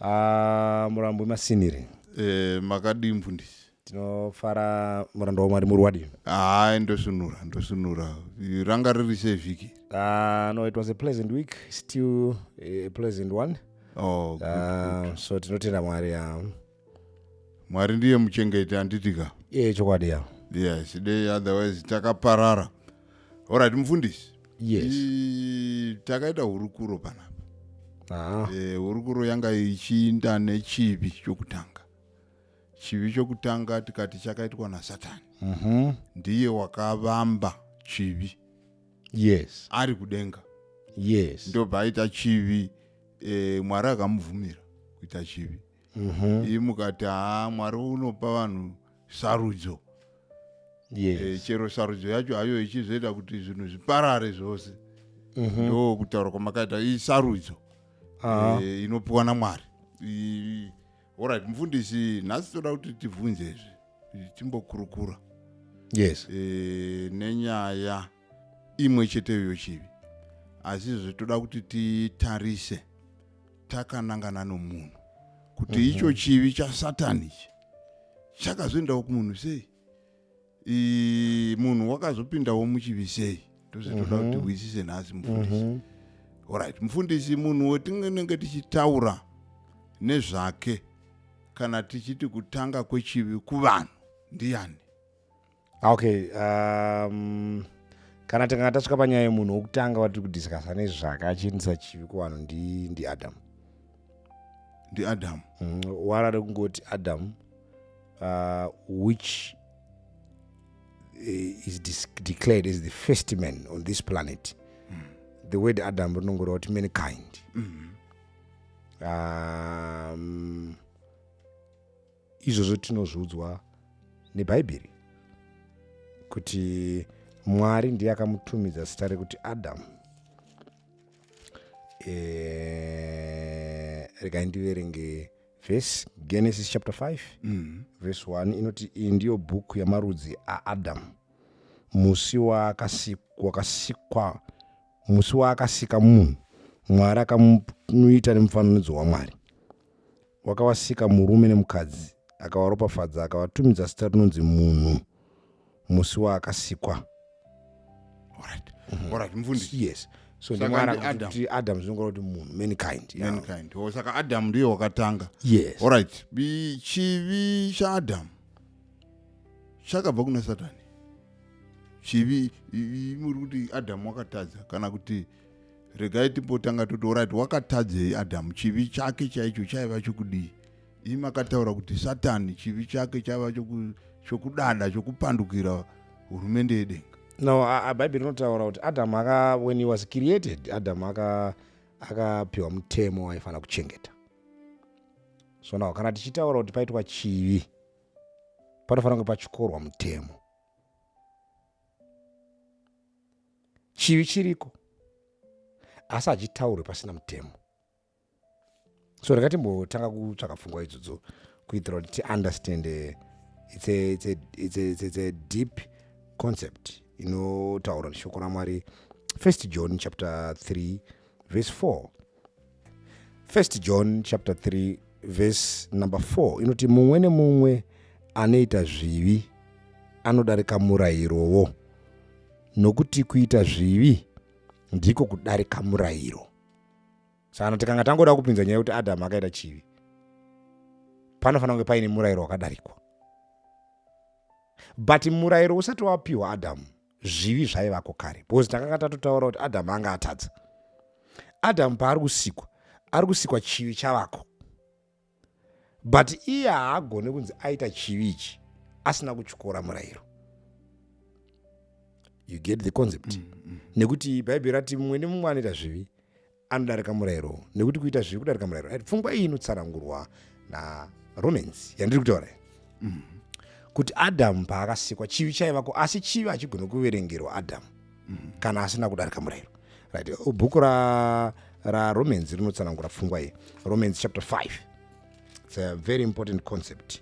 Ah, murambwi masiniri Eh, makadii mfundisi tinofara muranda wamwari muri wadini haa ndosvinura ndosvinura ranga riri sei vhiki Ah, no it was a pleasant week still a pleasant one oh, good. Ah, so tinotenda mwari ah. mwari ndiye muchengeti handiti ka iye chokwadi ya yes dei otherwise takaparara Alright mfundisi. Yes. I, takaita hurukuro panapa. Ah. Eh, hurukuro yanga ichiinda nechivi chokutanga. Chivi chokutanga tikati chakaitwa naSatani. Mhm. Ndiye wakavamba chivi Yes. ari kudenga. Yes. Ndobva aita chivi eh, Mwari akamubvumira kuita chivi. Mhm. Iyi mukati haa Mwari unopa vanhu sarudzo yes. e, chero sarudzo yacho hayo ichizoita kuti zvinhu zviparare zvose mm -hmm. ndo kutaura kwamakaita isarudzo uh -huh. e, inopiwa namwari orit mufundisi nhasi toda kuti tibvunze izvi timbokurukura yes e, nenyaya imwe cheteyo yochivi asi izvezvi toda kuti titarise takanangana nomunhu kuti mm -hmm. icho chivi chasatani ichi chakazoendawo kumunhu sei munhu wakazopindawo muchivi sei tose toda kuti mhm. hwisise nhasi mufundisi mhm. orit mufundisi munhu wetinenge tichitaura nezvake kana tichiti kutanga kwechivi kuvanhu ndiyani Ah, okay um, kana tikanga tasvika panyaya yemunhu wokutanga watiri kudiscasa nezvake achiendisa chivi kuvanhu ndi, ndi adam ndi adam mm, warare kungoti adam uh, which uh, is declared as the first man on this planet mm. the word adam rinongoreva kuti mankind mm -hmm. um, izvozvo tinozviudzwa nebhaibheri kuti mwari ndiye akamutumidza zita rekuti adamu e, regai ndiverenge vhesi genesis chapter 5 mm. vhesi 1 inoti iyi ndiyo bhuku yamarudzi aadamu musi wakasikwa musi waakasika munhu mwari akamuita nemufananidzo wamwari wakavasika murume nemukadzi akavaropafadza akavatumidza zita rinonzi munhu musi waakasikwa Alright. Mhm. Alright, mfundisi. yes so Saka ndimwari ndi Adam. kuti adam zvinongora kuti munhu mankind yeah. Mankind. Oh, saka adamu ndiye wakatanga yes Alright, bi- chivi chaadamu chakabva kuna satani chivi i- i- muri kuti adamu wakatadza kana kuti regai timbotanga toti orit wakatadzei adhamu chivi chake chaicho chaiva chokudii ii makataura kuti satani chivi chake chaiva chokudada chokupandukira hurumende yedenga no bhaibheri rinotaura kuti adhamu aka when he was created adhamu akapiwa mutemo waifanira kuchengeta so now kana tichitaura kuti paitwa chivi panofanira kunge pachikorwa mutemo chivi chiriko asi hachitaurwe pasina mutemo so ndakatimbotanga kutsvaka pfungwa idzodzo kuitira kuti tiunderstand eh, it's a, it's a, it's a, it's a deep concept inotaura neshoko ramwari first john chapter 3 verse 4 1 john chapter 3 verse number 4 inoti mumwe nemumwe anoita zvivi anodarika murayirowo nokuti kuita zvivi ndiko kudarika murayiro sana tikanga tangoda kupinza nyaya yekuti adamu akaita chivi panofanira kunge paine murayiro wakadarikwa but murayiro usati wapiwa adamu zvivi zvaivako kare because takanga tatotaura kuti adamu anga atadza adamu paari kusikwa ari kusikwa chivi chavako but iye haagone kunzi aita chivi ichi asina kutyora murayiro you get the concept mm, mm. nekuti bhaibheri rati mumwe nemumwe anoita zvivi anodarika murayiro nekuti kuita zviri kudarika murayiro right? pfungwa iyi inotsanangurwa naromans yandiri kutaura mm. kuti adamu paakasikwa chivi chaivako asi chivi hachigoni kuverengerwa adamu mm. kana asina kudarika murayiro right? bhuku raromans ra rinotsanangura pfungwa iyi romans chapter 5 its a very important concept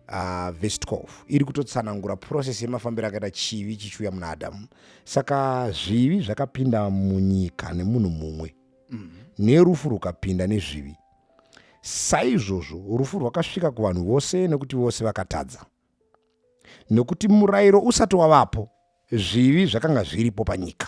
uh, vhesi 12 iri kutotsanangura process yemafambiro akaita chivi chichiuya muna adamu saka zvivi zvakapinda munyika nemunhu mumwe mm. nerufu rukapinda nezvivi saizvozvo rufu rwakasvika kuvanhu vose nekuti vose vakatadza nekuti murayiro usati wavapo zvivi zvakanga zviripo panyika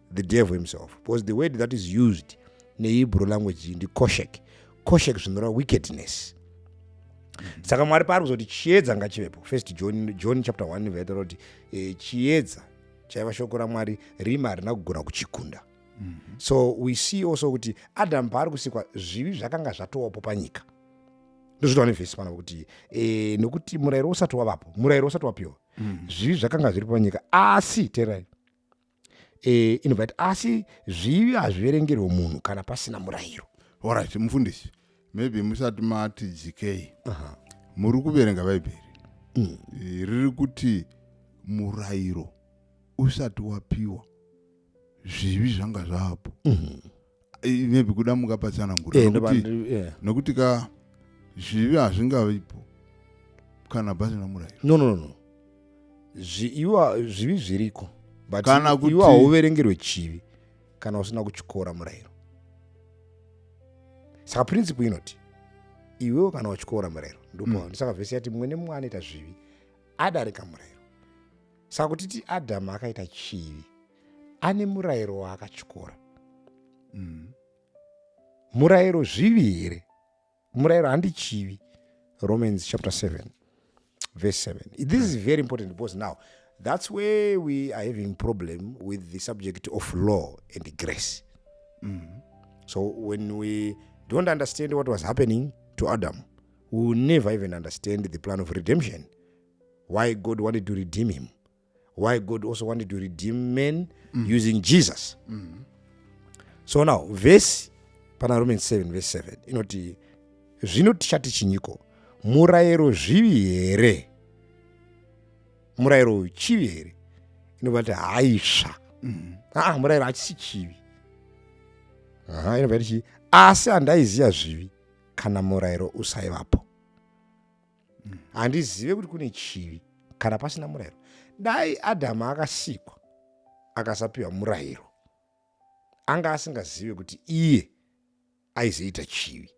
the devil himself because the word that is used nehebrew language ndi koshek koshek zvinoreva wickedness mm-hmm. saka mwari paari kuzoti chiedza ngachivepo first john, john chapter 1 veta roti eh, chiedza chaiva shoko ramwari rima harina kugona kuchikunda mm-hmm. so we see also kuti adamu paari kusikwa zvivi zvakanga zvatowapo panyika ndozvitawa nevhesi pana kuti eh, nokuti murayiro usati wavapo murayiro usati wapiwa mm-hmm. zvivi zvakanga zviri panyika asi terai e, inobva yati asi zvivi hazviverengerwe munhu kana pasina murayiro orit mufundisi maybe musati mati dzikei muri kuverenga bhaibheri mm. e, riri kuti murayiro usati wapiwa zvivi zvanga zvapo mm -hmm. Eh, maybe kuda muka patsanangura Eh, ndoba- nokuti ndi- eh. nokuti ka zvivi hazvingavipo kana pasina murayiro no no no, no Zvi- iwa zvivi zviriko but Kana kuti- iwa hauverengerwe chivi kana usina kutyora murayiro saka principle inoti iwewe kana watyora murayiro ndipo Mm. ndosaka vhesi yati mumwe nemumwe anoita zvivi adarika murayiro Saka kutiti Adhamu akaita chivi, ane murayiro waakatyora. Mm. Murayiro zvivi here? Murayiro handi chivi. Romans chapter 7 verse 7. This is very important because now that's where we are having problem with the subject of law and grace. Mm. So when we don't understand what was happening to Adam, we will never even understand the plan of redemption why god wanted to redeem him why god also wanted to redeem men mm. using jesus mm. so now vhesi pana romans 7 vhesi 7 inoti zvino tichati chinyiko murayiro zvivi here murayiro uyu chivi here inobva ti haisva mm. aa murayiro hachisi chivi aha inobva tichii asi handaiziva zvivi kana murayiro usaivapo handizive kuti kune chivi kana pasina murayiro dai adhamu akasikwa akasapiwa murayiro anga asingazive kuti iye aizoita chivi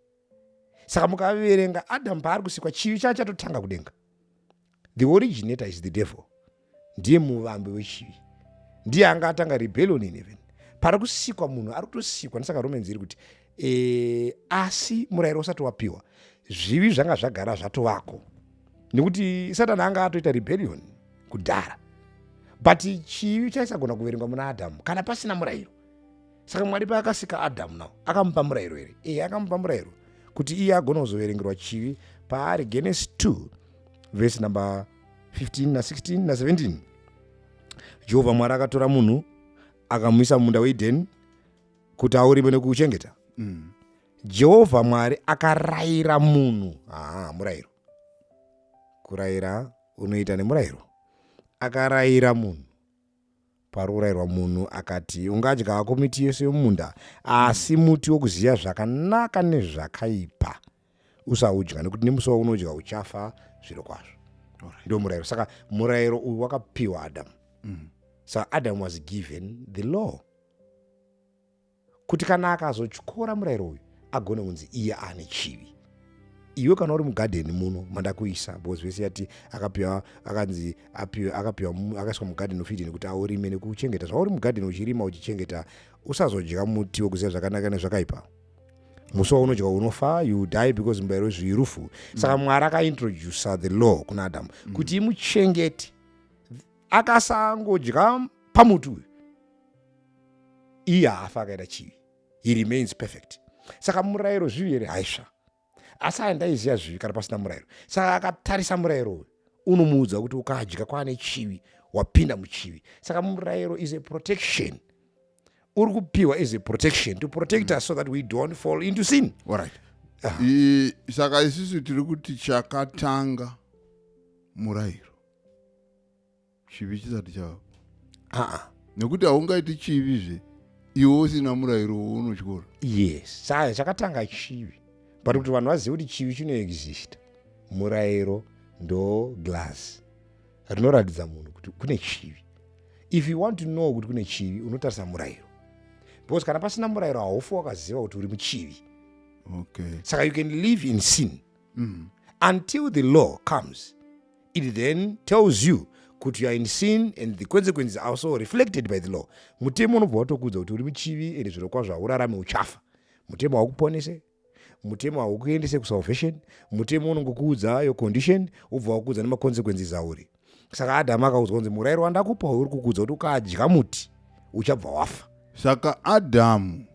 saka mukaverenga adhamu paari kusikwa chivi chava chatotanga kudenga the originator is the devil ndiye muvambi wechivi ndiye anga atanga rebellion in heaven pari kusikwa munhu ari kutosikwa ndisaka romans iri kuti e, asi murayiro usati wapiwa zvivi zvanga zvagara zvatovako nekuti satani anga atoita rebellion kudhara but chivi chaisagona kuverengwa muna adhamu kana pasina murayiro saka mwari paakasika adhamu nawo akamupa murayiro here ee eh, akamupa murayiro kuti iye agona kuzoverengerwa chivi paari genesis 2 vhesi number 15 na16 na17 jehovha mwari akatora munhu akamuisa mumunda weedheni kuti aurime nekuuchengeta mm. jehovha mwari akarayira munhu haa murayiro kurayira unoita nemurayiro akarayira munhu Pari kurairwa munhu akati ungadya hako miti yose yomumunda asi muti wokuziva zvakanaka nezvakaipa usaudya nekuti nemusi waunodya uchafa zviro kwazvo right. ndio murayiro saka murayiro uyu wakapiwa adamu mm. saka adamu was given the law kuti kana akazotyora murayiro uyu agone kunzi iye ane chivi iwe kana uri mugadheni muno mandakuisa because vese yati akapiwa akanzi apiwa akapiwa akaiswa mugadheni ofidini kuti aurime nekuchengeta zvauri mugadheni uchirima uchichengeta usazodya muti wekuziva zvakanaka nezvakaipa musi waunodya unofa you die because mubayiro wezvivi rufu saka mm. mwari akaintroducer the law kuna adamu mm. kuti imuchengeti akasangodya pamuti uyu iye haafi akaita chivi he remains perfect saka murayiro zvivi here haisva asi aya ndaiziva zvivi kana pasina murayiro saka akatarisa murayiro uyu unomuudza kuti ukadya kwaane chivi wapinda muchivi saka murayiro is a protection uri kupiwa is a protection to protect mm. us so that we don't fall into sin right. I, saka isisu tiri kuti chakatanga murayiro chivi chisati chava aa nekuti haungaiti chivi zve iwe usina murayiro wounotyora yes saka chakatanga chivi but kuti vanhu vazive kuti chivi chinoexista murayiro ndo glass rinoratidza munhu kuti kune chivi if you want to know kuti kune chivi unotarisa murayiro because kana pasina murayiro haufi wakaziva kuti uri muchivi okay saka you can live in sin mm. until the law comes It then tells you kuti you are in sin and the consequences are also reflected by the law. Mutemo unobva watokuudza kuti uri muchivi and zvirokwazvo haurarame uchafa. Mutemo haukuponese, mutemo haukuendese kusalvation, mutemo unongokuudza your condition wobva wakuudza nemaconsequences auri. Saka Adhamu akaudzwa kunzi murayiro wandakupa uyu uri kukuudza kuti ukadya muti uchabva wafa. Saka Adhamu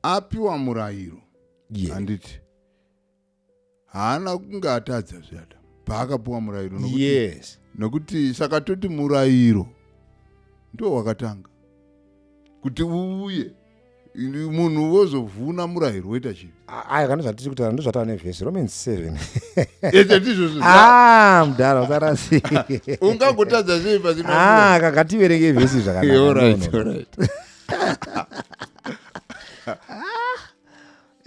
apiwa murayiro Yeah. handiti haana kunge atadza zve adamu paakapuwa murayiro nokuti, yes nokuti saka toti murayiro ndo wakatanga kuti uuye Ini- munhu wozovhuna murayiro woita chivi aya kana zvatiri kutaura ndozvataura nevhesi romans 7 ete ndizvozvo ah mudhara usarasika ungangotadza sei pasina murayiro? ah kakativerenge vhesi Eh, zvakanaka alright, No, no, no. alright.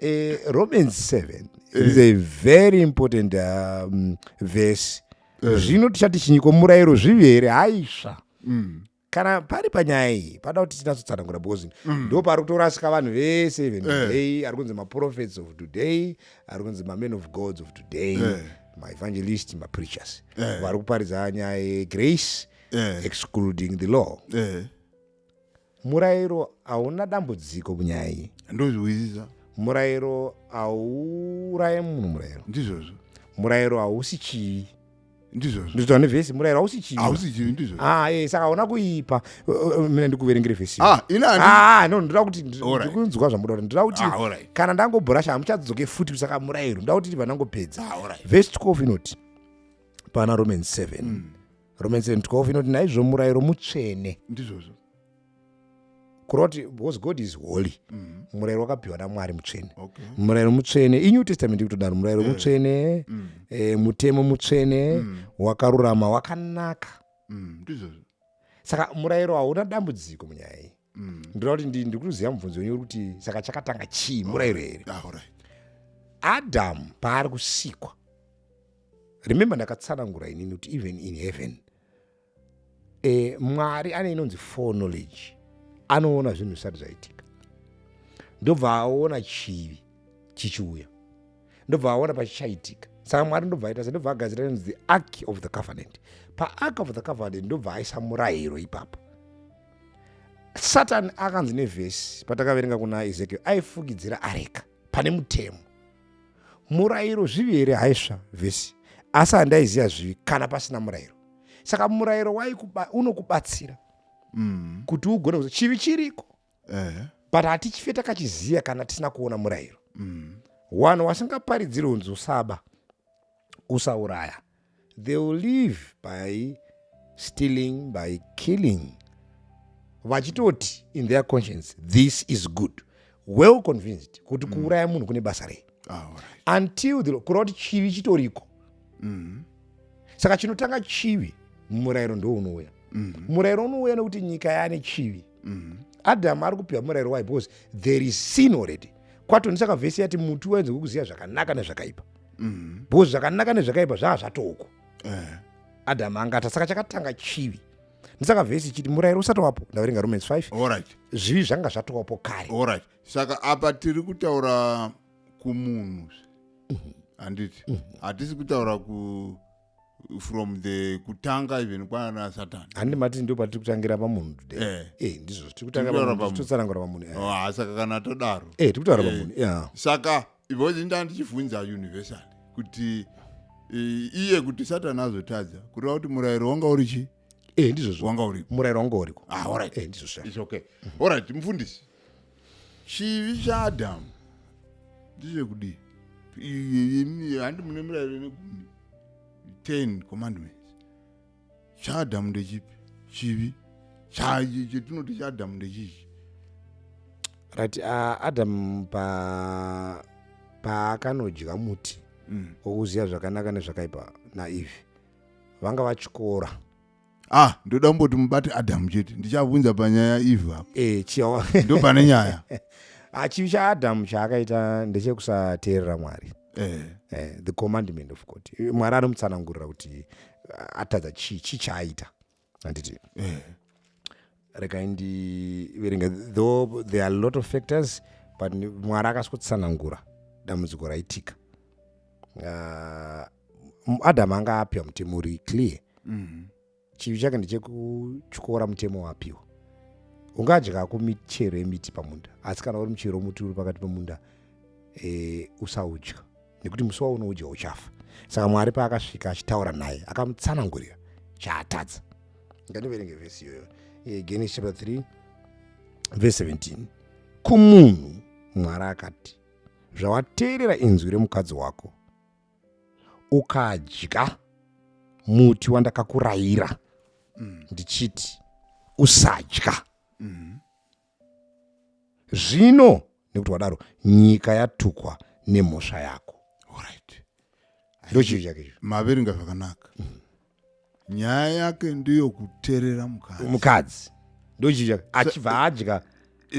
Eh, romans 7 eh. is a very important um, verse eh. zvino tichati chinyiko murayiro zvivi here haisva mm. kana pari panyaya iyi pada kuti tinatsotsanangura because mm. ndo pari kutorasika vanhu vese even today ari kunzi maprophets of today ari kunzi mamen of gods of today maevangelist mapreachers vari kuparidza nyaya yegrace excluding the law Murairo hauna dambudziko munyaya iyi. Ndozvihwisisa. Murairo hauuraye munhu murairo. Ndizvozvo. Murairo hausi chivi. Ndizvozvo. Ndizvozvo nevhesi murairo hausi chivi. Hausi chivi ndizvozvo. Ah, eh saka hauna kuipa. Eh, eh, mina ndikuverengere vhesi. Ah, ina andi. Ah, ah no ndoda kuti ndikunzwa zvamuda kuti ndoda kuti ah, kana ndangobhorasha hamuchadzoke futi kusaka murairo. Ndoda kuti ndibva ndangopedza. Ah, vhesi 12 inoti pana Romans 7. Mm. romans 12 inoti naizvo murayiro mutsvene ndizvozvo kuroti because god is holy mm -hmm. murayiro wakapiwa namwari mutsvene okay. murayiro mutsvene inew testament ikutodaro murayiro yeah. mutsvene mm. e, mutemo mutsvene mm. wakarurama wakanaka mm. ndizvozvo saka murayiro hauna dambudziko munyaya iyi mm. ndinoda kuti ndiri kutoziva mubvunzo wenyu uri kuti saka chakatanga chii murayiro here ah, adamu paari kusikwa remember ndakatsanangura inini kuti even in heaven e, mwari ane inonzi for knowledge anoona zvinhu zvisati zvaitika ndobva aona chivi chichiuya ndobva aona pachichaitika saka mwari ndobva aita se ndobva agadzira inonzi the ark of the covenant paark of the covenant ndobva aisa murayiro ipapo satani akanzi nevhesi patakaverenga kuna ezekiel aifukidzira areka pane mutemo murayiro zvivi here haisva vhesi asi handaiziva zvivi kana pasina murayiro saka murayiro unokubatsira mm. kuti ugone kuzi chivi chiriko uh-huh. but hatichife takachiziva kana tisina kuona murayiro mm. wanhu wasingaparidziri unzi usaba usauraya they will live by stealing by killing vachitoti in their conscience this is good well convinced kuti mm. kuuraya munhu kune basa rei ah, until the kureva kuti chivi chitoriko mm. saka chinotanga chivi murayiro ndounouya mm. murayiro unouya nekuti nyika yaane chivi mm. adam ari kupiwa murayiro why because there is sin already kwato ndisaka vhesi yati muti waenze kukuziva zvakanaka nezvakaipa mm. because zvakanaka nezvakaipa zvaa zvatoko uh. Eh. adam angata saka chakatanga chivi ndisaka vhesi chiti murayiro usati wapo ndaverenga romans 5 right. zvivi zvanga zvatowapo kare right. saka apa tiri kutaura kumunhu handiti mm-hmm. mm-hmm. hatisi kutaura ku from the kutanga even kwana satani handi mati ndo patiri kutangira pamunhu today Eh. eh ndizvo tiri Tiri kutaura kutaura pamunhu. totsanangura pamunhu eh. Oh, ah, saka kana todaro eh tiri kutaura Eh. pamunhu yeah saka because inda ndichivhunza universal kuti eh, iye kuti satani azotadza kureva kuti murayiro wanga uri chi eh ndizvo zvo wanga uripo murayiro wanga uriko ah, alright. eh ndizvo sha it's okay alright mfundisi chivi chaadhamu ndechekudii handi mune mirairo ine gumi ten commandments chaadhamu ndechipi chivi chetinoti chaadhamu ndechichi right uh, adamu pa paakanodya muti mm. okuziva zvakanaka nezvakaipa naeve vanga vatyora ah ndoda kumboti mubati adamu chete ndichavunza panyaya eve apo eh, chiwa ndo pane nyaya Ah, chivi chaadamu chaakaita ndechekusateerera mwari eh. eh, the commandment of god Eh, mwari anomutsanangurira kuti ah, atadza chii chii chaaita handiti Eh. regai ndiverenge though there are a lot of factors but mwari akasvotsanangura dambudziko raitika uh, adam anga apiwa mutemo uri clear mm -hmm. chivi chake ndechekutyora mutemo wapiwa ungadya kumichero yemiti pamunda asi kana uri muchero womuti uri pakati pemunda e, usaudya nekuti musi waunoudya uchafa saka mwari paakasvika achitaura naye akamutsanangurira chaatadza ngandiverenge vhesi iyoyo eh, genesis chapter 3 vhesi 17 kumunhu mwari akati zvawateerera inzwi remukadzi wako ukadya muti wandakakurayira mm. ndichiti usadya mm. zvino nekuti wadaro nyika yatukwa nemhosva yako Alright. ndochii chake icho maverenga zvakanaka nyaya yake ndiyo kuterera mukadzi mukadzi ndochii chake achibva adya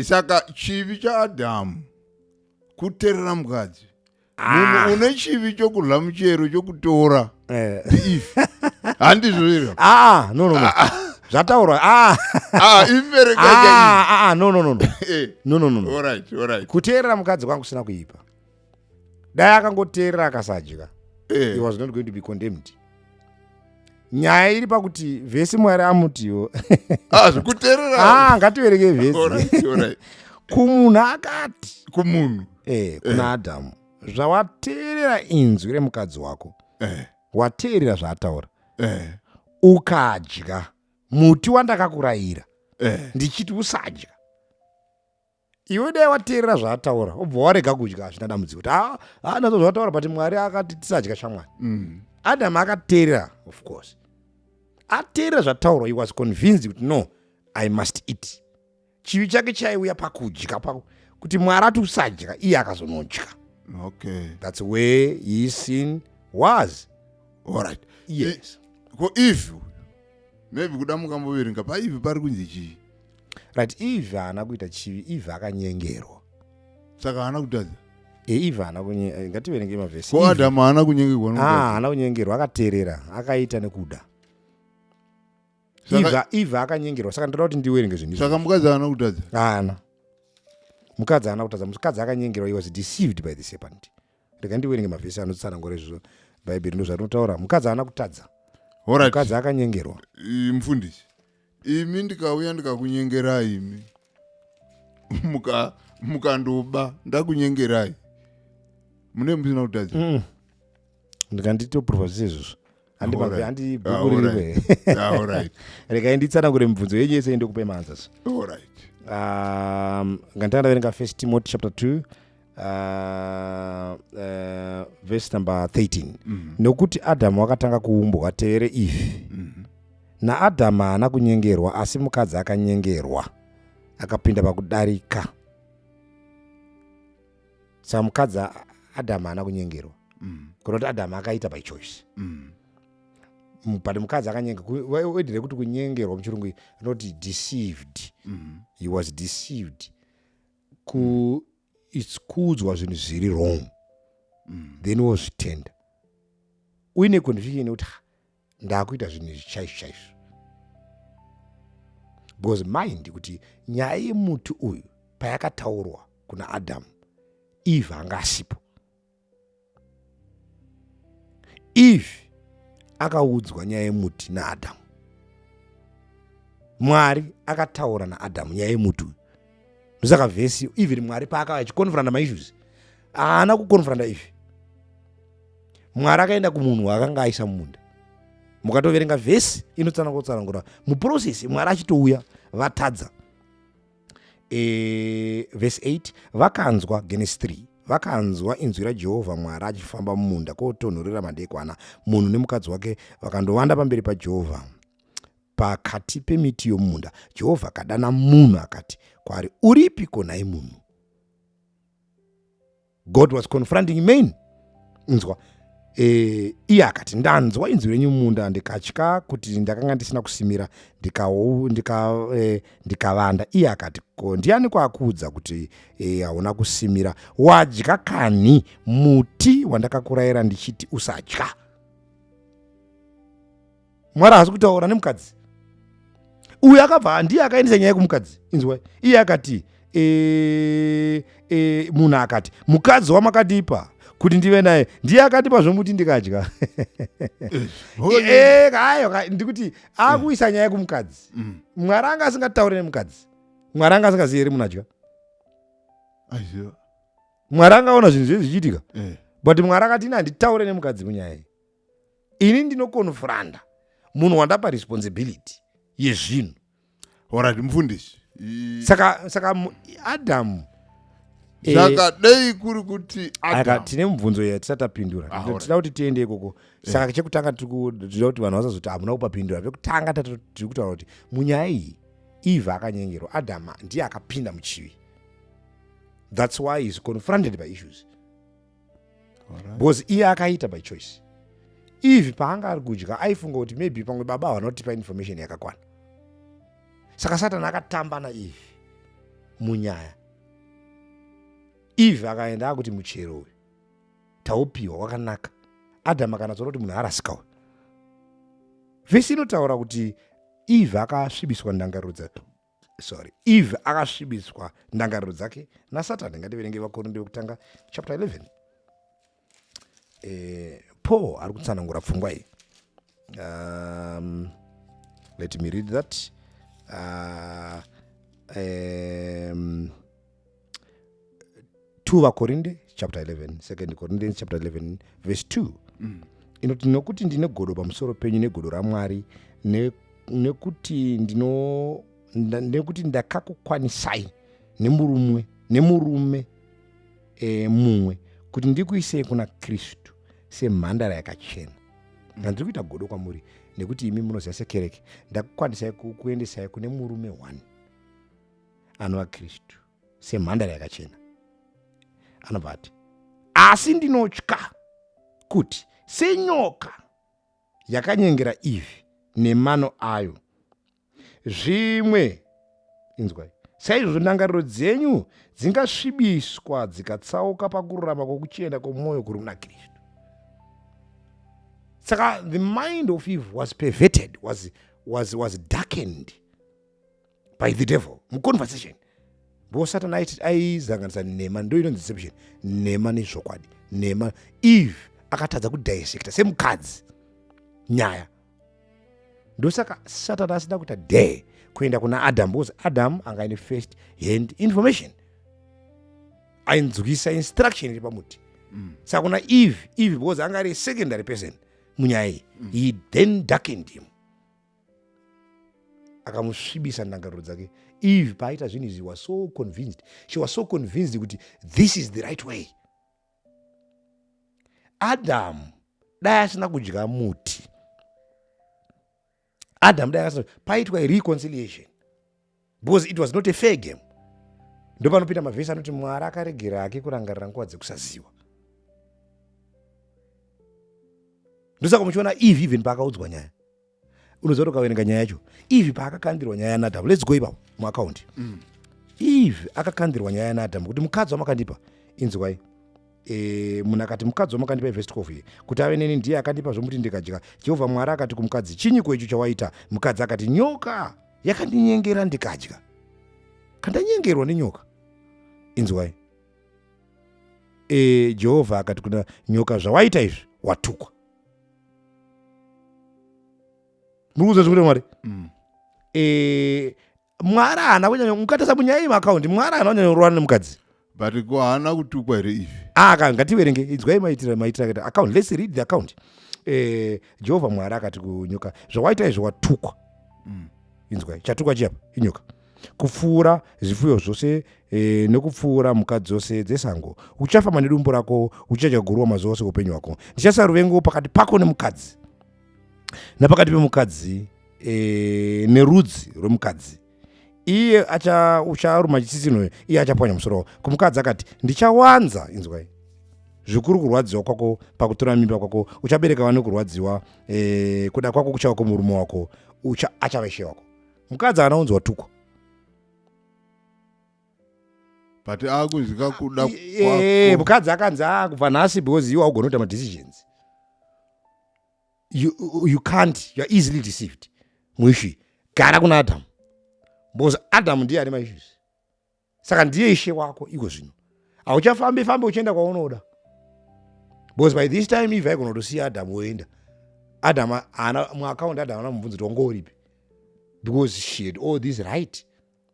saka chivi chaadhamu kuterera mukadzi munhu Ah. une chivi chokudya muchero chokutora Eh. if handizvo iro Ah, no, no, no. Zvataurwa. Ah, ah imbereka ah, chaiyi ah, ah, no, no, no, no. Eh, No, no, no, no. alright alright Kuteerera mukadzi kwangu kusina kuipa. Dai akangoteerera akasadya. He Eh, was not going to be condemned. nyaya iri pakuti vhesi mwari amutiwo ah, zvikuterera ah, ngativereke vhesi kumunhu akati kumunhu eh, kuna eh. adhamu zvawateerera inzwi remukadzi wako eh. wateerera zvaataura eh. ukadya muti wandakakurayira eh. ndichiti usadya Iwe dai wateerera zvaataura obva warega kudya hazvina dambudziko kuti haa ah, ah, nazvo zvataura but mwari akati tisadya shamwari mm. adam akateerera of course ateerera zvataurwa he was convinced kuti no i must eat chivi chake chaiuya pakudya pako kuti mwari ati usadya iye akazonodya okay. thats where he sin was allright yes ko ivi maybe kuda mukamboverenga paivi pari kunzi chii right eve haana kuita chivi eve akanyengerwa saka haana kutadza eiva haana kunyengerwa ngativerenge mavhesi ko adamu haana kunyengerwa ah, haana kunyengerwa akateerera akaita nekuda eve akanyengerwa saka ndoda kuti ndiwerenge zvinhu saka mukadzi haana kutadza haana mukadzi haana kutadza mukadzi akanyengerwa he was deceived by the serpent rega ndiwerenge mavhesi anotsanangura izvozvo bhaibheri ndozvarinotaura mukadzi haana kutadza mukadzi akanyengerwa mfundisi imi ndikauya ndikakunyengerai imi mukandoba muka ndakunyengerai mune musina kutadza mm. ndikanditoprova zvese izvozvo regai nditsanangure mibvunzo yenyu yese ndokupe maanzas um, nganditanga ndaverenga first timoti chapter 2 Uh, uh, verse number 13 mm -hmm. nokuti adhamu wakatanga kuumbwa tevere ifi mm -hmm. naadhamu haana kunyengerwa asi mukadzi akanyengerwa akapinda pakudarika saka mukadzi adhamu haana kunyengerwa mm. kunoti adhamu akaita by choice mm. mm but mukadzi akanyengerwaedire kuti kunyengerwa muchirungu anoti deceived mm. he was deceived ku its kuudzwa zvinhu zviri wrong mm. then wozvitenda uine conviction yekuti ndakuita zvinhu izvi chaizvo chaizvo because mind kuti nyaya yemuti uyu payakataurwa kuna adamu eve anga asipo eve akaudzwa nyaya yemuti naadhamu mwari akataura naadhamu nyaya yemuti uyu ndosaka vhesi even mwari paakava achikonfranda maissues haana kukonfranda eve mwari akaenda kumunhu waakanga aisa mumunda mukatoverenga vhesi inotsanangotsanangura muprocess mwari achitouya vatadza e, vhesi 8 vakanzwa genesi 3 vakanzwa inzwi rajehovha mwari achifamba mumunda kwotonhorera madekwana munhu nemukadzi wake vakandovanda pamberi pajehovha pakati pemiti yomumunda jehovha akadana munhu akati kwaari uripi konhai munhu god was confronting main nzwa e, iye akati ndanzwa inzwi renyu munda ndikatya kuti ndakanga ndisina kusimira ndikavanda ndika, e, ndika iye akati ko ndiani kwakuudza kuti e, hauna e, kusimira wadya kanhi muti wandakakurayira ndichiti usadya mwari haasi kutaura nemukadzi uyu akabva ndiye akaendesa nyaya yekumukadzi inzwa iye akati e, e, munhu akati mukadzi wamakadeeper kuti ndive naye ndiye akandipa zvomuti ndikadya eh, hayo ndikuti akuisa nyaya kumukadzi mm. mwari anga asingataure nemukadzi mwari anga asingazivi ri munadya mwari angaona zvinhu zviye zvichiitika eh. but mwari akati ini handitaure nemukadzi munyaya iyi ini ndinokonfranda munhu wandapa responsibility yezvinhu orat mufundisi saka saka adamu eh, zvakadei kuri kuti tine mubvunzo ya tisati tapindura ah, tida kuti tiende ikoko eh. saka chekutanga tikuda kuti vanhu vasazoti hamuna kupapindura pekutanga tiri kutaura kuti munyaya iyi eve akanyengerwa adama ndiye akapinda muchivi that's why is confronted by issues because iye akaita by choice ivi paanga ari kudya aifunga kuti maybe pamwe baba havana kutipa information yakakwana saka satani akatamba naivi munyaya ivi akaenda akuti muchero uyu taupiwa wakanaka adamu akanatsoona kuti munhu arasika uyu vhesi inotaura kuti ivi akasvibiswa ndangariro dzake sorry eve akasvibiswa ndangariro dzake nasatani ngativerenge vakorinde vekutanga chapter 11 eh, paul ari kutsanangura pfungwa iyi um, let me read that uh, um, 2 vakorinde chapter 11 second corinthians chapter 11 verse 2 mm. inoti nokuti ndine godo pamusoro penyu negodo ramwari ne, nekuti ndino nekuti ndakakukwanisai nemurumwe nemurume e, mumwe kuti ndikuisei kuna kristu semhandara yakachena handiri kuita godo kwamuri nekuti imi munoziva sekereke ndakukwanisai kuendesai kune murume one anova kristu semhandara yakachena anobva ati asi ndinotya kuti senyoka yakanyengera ivhi nemano ayo zvimwe inzwai saizvozvo ndangariro dzenyu dzingasvibiswa dzikatsauka pakururama kwokuchena kwomwoyo kuri muna kristu saka the mind of eve was perverted was, was, was darkened by the devil muconversation ndo satani aiti aizanganisa nhema ndo inonzi deception nhema nezvokwadi nhema eve akatadza kudissecta semukadzi nyaya ndosaka satani asina kuita dare kuenda kuna adam because adam anga ine first hand information ainzwisa instruction iri pamuti mm. saka kuna eve eve because anga ari secondary person munyaya iyi mm. he then darkened him akamusvibisa ndangariro dzake eve paaita zvinhu izvi was so convinced she was so convinced kuti this is the right way adamu dai asina kudya muti adamu dai asina paitwa reconciliation because it was not a fair game ndopanopinda mavhesi anoti mwari akaregera hake kurangarira nguva dzekusaziva ndosaka muchiona eve even paakaudzwa nyaya unoziva kuti ukaverenga nyaya yacho eve paakakandirwa nyaya yanadamu lets go ipapo muakaundi mm. eve akakandirwa nyaya yanadamu kuti mukadzi wamakandipa inzwai e, munhu akati mukadzi wamakandipa ivhesi 12 ye kuti ave neni ndiye akandipa zvomuti ndikadya jehovha mwari akati kumukadzi chinyiko icho chawaita mukadzi akati nyoka yakandinyengera ndikadya kandanyengerwa nenyoka inzwai e, jehovha akati kuna nyoka zvawaita izvi watukwa muri kuza zvikuita mwari mm. e, mwari haana kunyanya mukatasa munyaya yemaakaundi mwari haana kunyanya kurwana nemukadzi but ko haana kutukwa here ife ah, ka ngativerenge inzwai maitira maitira kati account let's read the account eh, jehovha mwari akati kunyoka zvawaita izvo watukwa mm. inzwai chatukwa chiyapa inyoka kupfuura zvifuyo zvose e, nokupfuura mhuka dzose dzesango uchafamba nedumbu rako uchadya guruwa mazuva ose upenyu hwako ndichasa ruvengo pakati pako nemukadzi napakati pemukadzi e, nerudzi rwemukadzi iye ucharuma chitsitsinhoyo iye achapwanya musoro wavo kumukadzi akati ndichawanza inzwai zvikuru kurwadziwa kwako pakutora mimba kwako uchabereka vane kurwadziwa e, kuda kwako kuchava kumurume wako ucha achava ishe wako mukadzi haana unzi watukwa but akunzwika kuda eh, mukadzi akanzi akubva ah, nhasi because iwe augona kuita madecisions you, you can't you're easily deceived muishu gara kuna adamu because adamu ndiye ane maissues saka ndiye ishe wako iko zvino hauchafambi fambi uchienda kwaunoda because by this time ive aigona kutosiya adamu woenda adamu ana muakaundi adamu ana mubvunzo kuti wanga uripi because she had all this right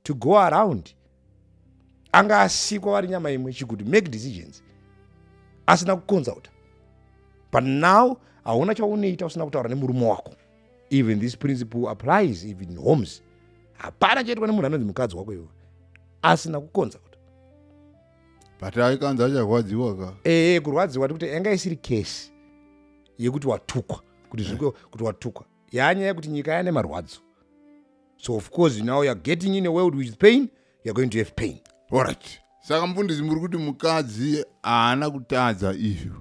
to go around anga asikwa vari nyama imwe she could make decisions asina kuconsulta but now hauna chaunoita usina kutaura nemurume wako even this principle applies even in homes hapana chaitwa nemunhu anonzi mukadzi wako iwe asina kuconsulta but aikanzi acharwadziwa ka ee kurwadziwa tikuti yanga isiri case yekuti watukwa kuti zviko kuti watukwa yaanyaya yekuti nyika yane marwadzo so of course now youare getting in a world with pain youare going to have pain orit saka mufundisi muri kuti mukadzi haana kutadza izvi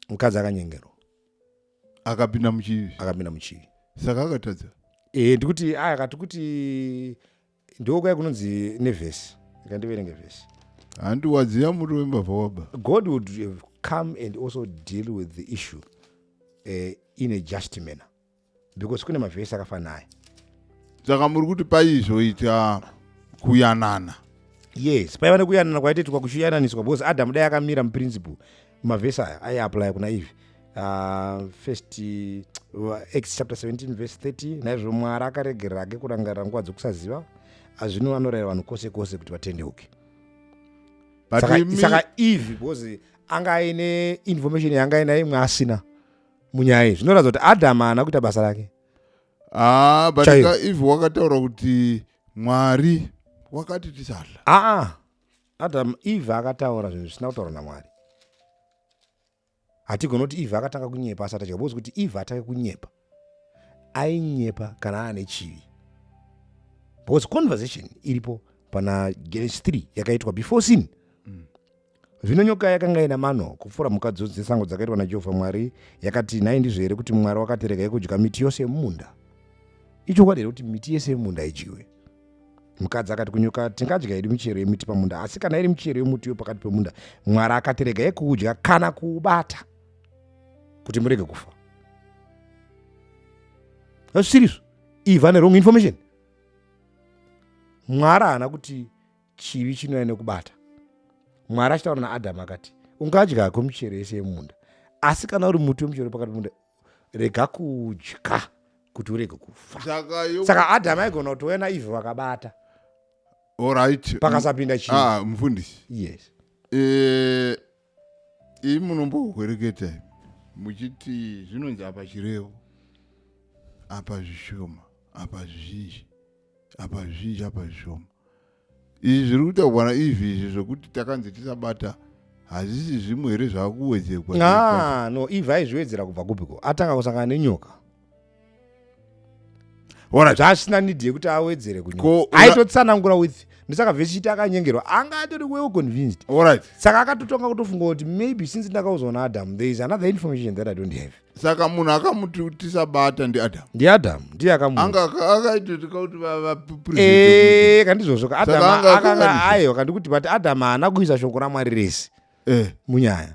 mukadzi akanyengerwa akapinda muchivi akapinda muchivi saka akatadza ee ndikuti aya kati kuti ndiko kwai kunonzi nevhesi ikandiverenge vhesi handi wadziya muri wembavha waba god would have come and also deal with the issue uh, in a just manner because kune mavhesi akafanaya saka muri kuti paizoita kuyanana yes paiva nekuyanana kwaititwa kuchiyananiswa because adamu dai akamira muprinciple mavhesi aya aiaplya kuna ivi uh, ah, first uh, acts chapter 17 verse 30 naizvo mwari akaregerera ake kurangarira nguva dzokusaziva azvino anorayira vanhu kwose kwose kuti vatendeuke saka eve because anga aine information yanga aina imwe asina munyaya iyi zvinoratidza kuti adam haana kuita basa rake ah, but eve wakataura kuti mwari wakati tisadla aa ah, ah. Adam Eve akataura zvinhu zvisina kutaurwa naMwari. Hatigoni kuti Eve akatanga kunyepa asati adya because kuti Eve atange kunyepa ainyepa kana aane chivi because conversation iripo pana Genesis 3 yakaitwa before sin mm. zvino nyoka yakanga ina mano kupfuura mhuka dzose dzesango dzakaitwa naJehovha Mwari yakati nhai ndizvo here kuti Mwari wakati regai kudya miti yose yemumunda ichokwadi here kuti miti yese yemumunda idyiwe mukadzi akati kunyoka tingadya yedu michero yemiti pamunda asi kana iri michero yemuti yo pakati pemunda mwari akati rega yekuudya kana kuubata kuti murege kufa asiriso iva nerong information mwari haana kuti chivi chinouya nekubata mwari achitaura naadhamu akati ungadya hako michero yese yemunda asi kana uri muti wemuchero pakati pemunda rega kudya kuti urege kufa saka adam aigona kuti wena ive vakabata orit pakasapinda chii ah, mufundisi yes eh, ii munombohwereketa muchiti zvinonzi apa chirevo apa zvishoma apa zvizhinji apa zvizhinji apa zvishoma izvi zviri kutaurwa naizvi izvi zvekuti takanzi tisabata hazvisi zvimwe here zvakuwedzerwa ah, no ive aizviwedzera kubva kupiko atanga kusangana nenyoka zvaasina nidi yekuti awedzere kunyoka aitotsanangura with ndosaka vhesiti akanyengerwa anga atori well convinced saka akatotonga kutofunga kuti maybe since ndakaudzwa naadam there is another information that i don't have saka munhu akamuti kuti sabata ndiadam ndiadam ndiye akamuanga akaitotika kuti eh, kandizvozvo kaadamayo kandi kuti but adam haana kuisa shoko ramwari rese eh. munyaya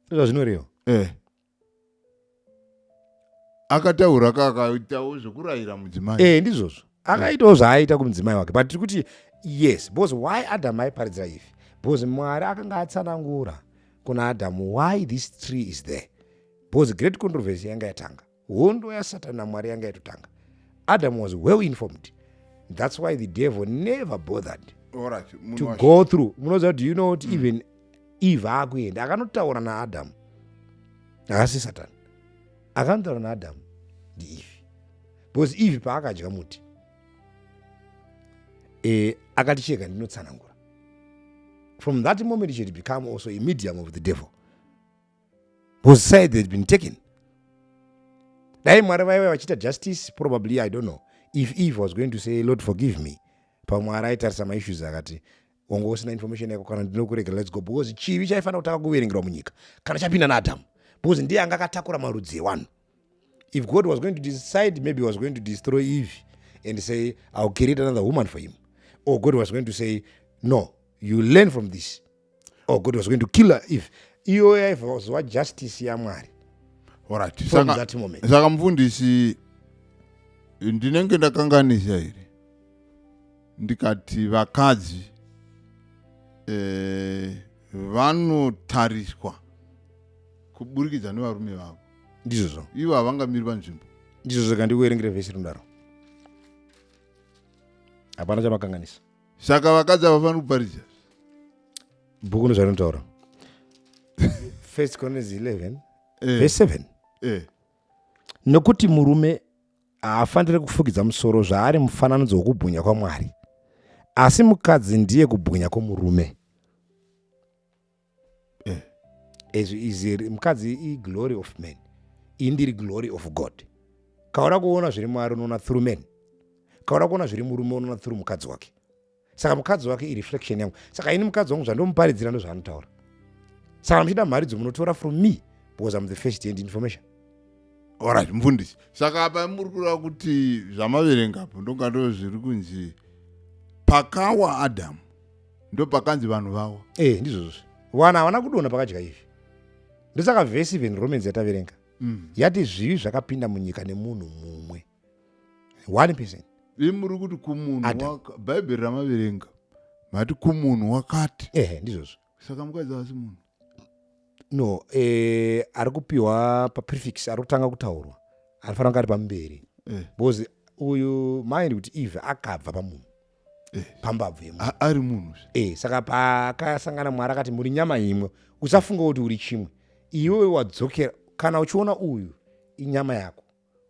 ndozvazvinoreva eh. akataura kakatawo zvekurayira mudzimai ndizvozvo akaitawo zvaaiita kumudzimai wake but tiri kuti yes because why adamu aiparidzira ifi because mwari akanga atsanangura kuna adamu why this tree is there because great controversy yanga yatanga hondo yasatani namwari yanga yatotanga adamu was well informed that's why the devil never bothered right, to go through munoziva kuti you know kuti mm. even eve akuenda akanotaura naadamu haasi satani Akanotaura naAdamu ndiEvhi, because Evhi paakadya muti e, akati chega ndinotsanangura. From that moment she had become also a medium of the devil because side had been taken. Dai Mwari vaive vachiita justice probably I don't know if Eve was going to say Lord forgive me pamwe araitarisa maissues akati wanga usina information yako kana ndinokuregera let's go because chivi chaifanira kutanga kuverengerwa munyika kana chapinda naadhamu because ndiye anga akatakura marudzi ewanhu if god was going to decide maybe was going to destroy eve and say ill create another woman for him or god was going to say no you learn from this or god was going to kill her if iyoyo yaivazova justice yamwari orit saka mufundisi ndinenge ndakanganisa here ndikati vakadzi eh, vanotariswa kuburikidza nevarume vavo ndizvozvo ivo havangamiri panzvimbo ndizvozvo kandikuerengere vhesi rinodaro hapana chamakanganisa saka vakadzi havafaniri kuparidza bhuku ndozvarinotaura first corinthians 11 eh, vhesi 7 eh, nokuti murume haafanire kufukidza musoro zvaari mufananidzo wokubwinya kwamwari asi mukadzi ndiye kubwinya kwomurume eh. mukadzi iglory of man iyi ndiri glory of god kaura kuona zviri mwari unoona through man kaura kuona zviri murume unoona through mukadzi wake saka mukadzi wake ireflection yangu saka ini mukadzi wangu zvandomuparidzira ndozvaanotaura saka muchida mharidzo munotora from me because am the first hand information orit mfundisi saka apa muri kureva kuti zvamaverengapo ndonga ndo zviri kunzi pakawa adamu ndo pakanzi vanhu vawa e eh, ndizvozvo wana havana kudona pakadya izvi ndosaka vhesi even romans yataverenga mm. yati zvivi zvakapinda munyika nemunhu mumwe one person imi muri kuti kumunhu Adam. waka- bhaibheri ramaverenga mati kumunhu wakati ehe ndizvozvo saka mukadzi havasi munhu no eh, ari kupiwa paprefix ari kutanga kutaurwa anofanira kunge ari pamberi Eh. because uyu mind kuti eve akabva pamunhu pambabvu yemunhu A- ari munhu zve. e saka paakasangana mwari akati muri nyama imwe usafunga kuti uri chimwe iwewe wadzokera kana uchiona uyu inyama yako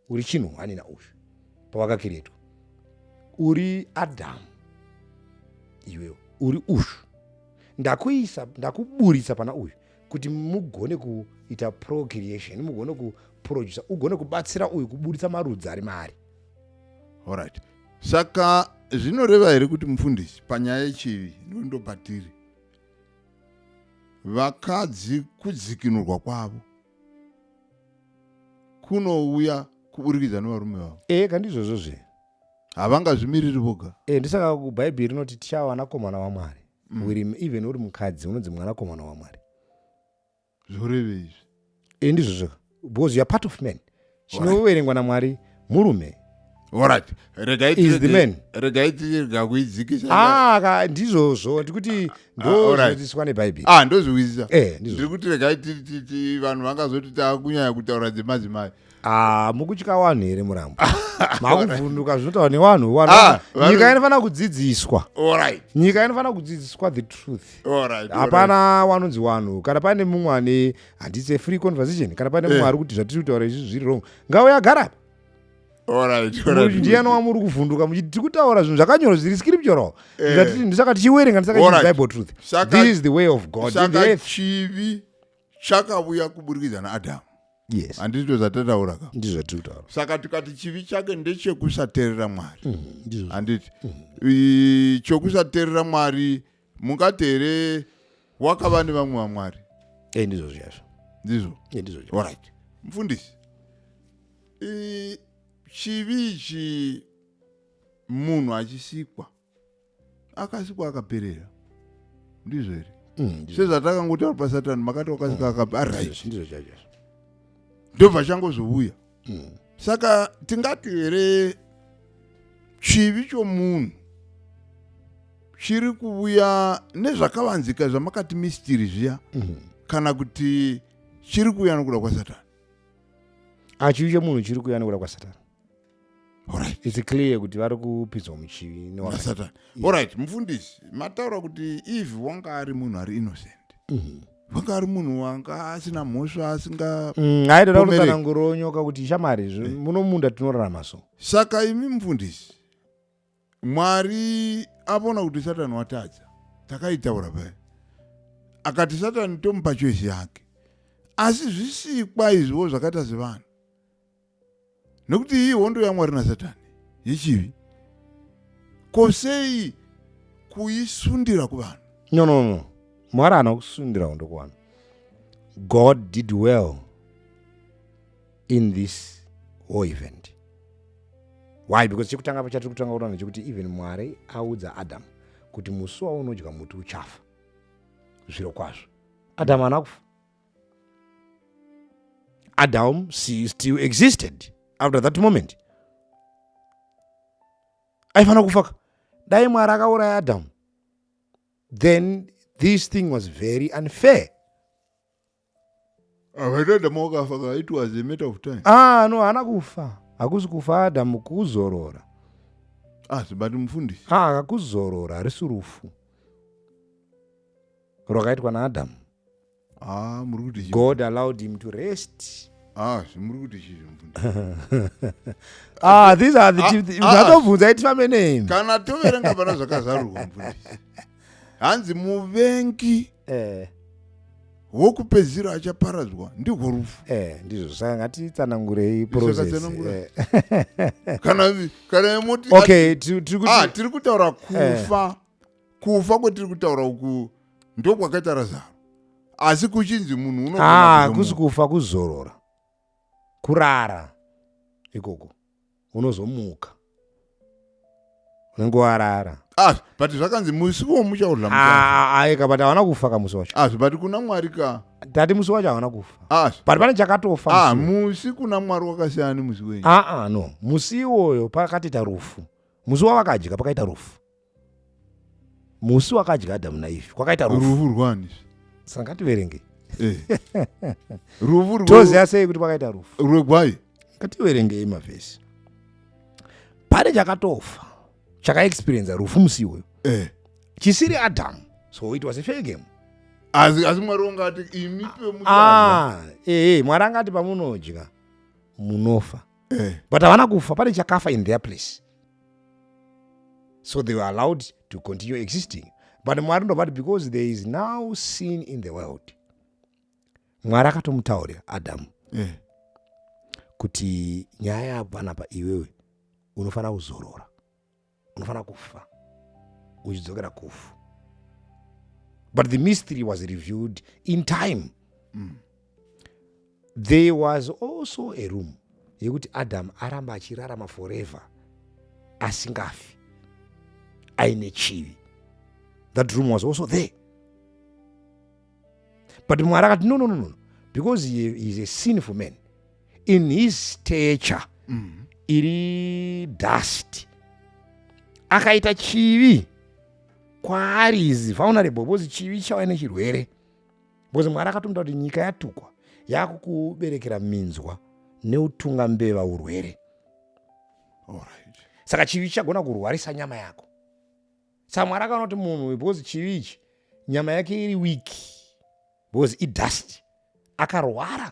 uri chinhu hwani nauyu pawakakiretwa uri adhamu iwewo uri ushu ndakuisa ndakuburitsa pana uyu kuti mugone kuita procreation mugone kuproducer ugone kubatsira uyu kuburitsa marudzi ari maari orit saka zvinoreva here kuti mufundisi panyaya yechivi ndondobatiri vakadzi kudzikinurwa kwavo kunouya kuburikidza nevarume vavo ee ka ndizvozvo zve havangazvimiriri voga ee ndisaka bhaibheri rinoti tichava vanakomana vamwari mm. uri even uri mukadzi unonzi mwanakomana wamwari zvoreve izvi ee ndizvozvo because youare part of man chinoverengwa namwari murume Alright, regai Is the tirege- man. regai tirega kuidzikisa Ah, ka- ndizvozvo ndikuti alright. ndozvinodzidziswa nebhaibheri ah ndozviwizisa Eh, ndizvo. ndiri kuti regai ti- ti- ti- vanhu vangazoti takunyanya kutaura dzemadzimai Ah, mukutya wanhu here murambo makuvhunduka zvinotaura newanhu wanhu Ah, vanhu- nyika inofanira kudzidziswa Alright, nyika inofanira kudzidziswa the truth alright, alright. hapana wanonzi wanhu kana pane mumwe ane handisi free conversation kana pane mumwe eh. ari kuti zvatiri kutaura izvi zviri wrong ngauya agara ndiani wamuri kuvhunduka muchiti tiri kutaura zvinhu zvakanyorwa zviri scriptural eh. ndisaka tichiwerenga ndisakabible truth this is the way of god chivi chakauya kuburikidza naadamu yes handizvo zvatataura ka ndizvo zvatiri kutaura saka tikati chivi chake ndechekusaterera mwari mm, handiti mm. chokusaterera mwari mungati here wakava nevamwe vamwari e ndizvo zviyazvo ndizvo e ndizvo zviyazvo orit mufundisi chivi ichi munhu achisikwa akasikwa akaperera ndizvo here mm, sezvatakangotaura pasatani makati wakasika mm, akaperera ndobva changozouya mm. saka tingati here chivi chomunhu chiri kuvuya nezvakavanzika zvamakati mistiri zviya mm. kana kuti chiri kuuya nokuda kwasatani achivi ah, chomunhu chiri kuuya nokuda kwasatani Alright. it's clear kuti vari kupidzwa muchivi newa- nasatani orit mufundisi mataura kuti eve wanga ari munhu ari innocent Mhm. wanga ari munhu wanga asina mhosva asinga Mm, aitoda Pomerei. kutsananguro onyoka kuti shamari izvo muno munda tinorarama so saka imi mufundisi mwari avona kuti satani watadza takaitaura paya akati satani tomupa choisi yake asi zvisikwa izviwo zvakaita sevanhu nekuti iyi hondo yamwari nasatani yechivi ko sei kuisundira kuvanhu no no no mwari haana kusundira hondo kuvanhu god did well in this war event why because chekutanga pachatiri kutanga kutaura nechekuti even mwari audza adamu kuti musi waunodya muti uchafa zviro kwazvo adamu haana kufa Adam still existed after that moment. Aifanira kufaka. Dai Mwari akauraya Adam. Then this thing was very unfair. Akatadama wakafaka it was a matter of time. Ah no haana kufa. Hakusi kufa Adam kuzorora. Asi ah, but mufundisi. Ah kuzorora harisi rufu. Rwakaitwa naAdam. Ah, muri kuti chii? God allowed him to rest. Ah, zvimuri kuti chii zvimufundisi? Ah, these are the Ah, chief- ah. zvatobvunza iti family name. Kana toverenga pana zvakazarurwa mufundisi. Hanzi muvengi Eh, wokupedzisira achaparadzwa ndihwo rufu. eh, ndizvo saka ngatitsanangurei process. Zvakatsanangura. eh. Kana kana moti Okay, tiri tiri kuti ah tiri kutaura kufa kufa kwatiri kutaura uku ndokwakaita razaro asi kuchinzi munhu unokuzi ah, kufa kuzorora kurara ikoko unozomuka unenge warara ah, but zvakanzi musi wo muchauraaeka ah, but havana kufa ka musi wacho asi but kuna mwari ka tati musi wacho havana kufa asi but pane chakatofa musi kuna mwari wakasiyana nemusi wenyu aa no musi iwoyo pakatita rufu musi wavakadya pakaita rufu musi wakadya adamu naivi kwakaita rufu rufu rwani saka ngativerengei Eh. rufu rwe- toziva sei kuti kwakaita rufu rwegwai ngativerengei mavhesi pane chakatofa chakaexperienza rufu musi iwoyo Eh. chisiri adamu so it was a fair game asi asi mwari wanga ati imi pemudana ah, ee mwari angati pamunodya munofa Eh. but havana kufa pane chakafa in their place so they were allowed to continue existing but mwari ndovati because there is now sin in the world mwari akatomutaurira adamu mm. kuti nyaya yako panapa iwewe unofanira kuzorora unofanira kufa uchidzokera kufu but the mystery was reviewed in time mm. there was also a room yekuti adam aramba achirarama forever asingafi aine chivi that room was also there but mwari akati no no no no because he is a sinful man in his stature mm. iri dust akaita chivi kwaari is vulnerable because chivi chauya nechirwere because mwari akatomda kuti nyika yatukwa yakukuberekera minzwa neutunga mbeva urwere Alright. saka chivi chichagona kurwarisa nyama yako saka mwari akaona kuti munhu uyu because chivi ichi nyama yake iri wiki because idust akarwara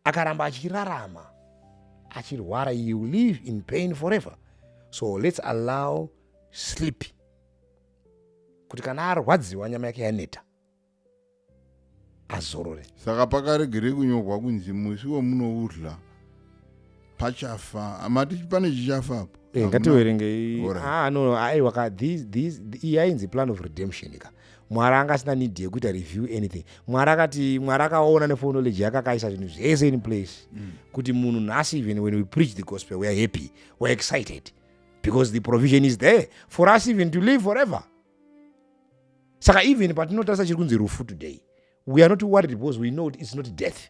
akaramba achirarama achirwara you live in pain forever so lets allow sleep kuti kana arwadziwa nyama yake yaneta azorore saka pakaregerei kunyorwa kunzi musi wemunoudla pachafa mati pane chichafa apo Eh, ngativerengei Alright. ah, no, aiwa ka these- these- iyi yainzi plan of redemption ka mwari anga asina need yekuita review anything mwari akati mwari akaona nefonology yake akaisa zvinhu zvese in place Mm. kuti munhu nhasi even when we preach the gospel we are happy we are excited because the provision is there for us even to live forever saka even patinotarisa chiri kunzi rufu today we are not worried because we know kuti it's not death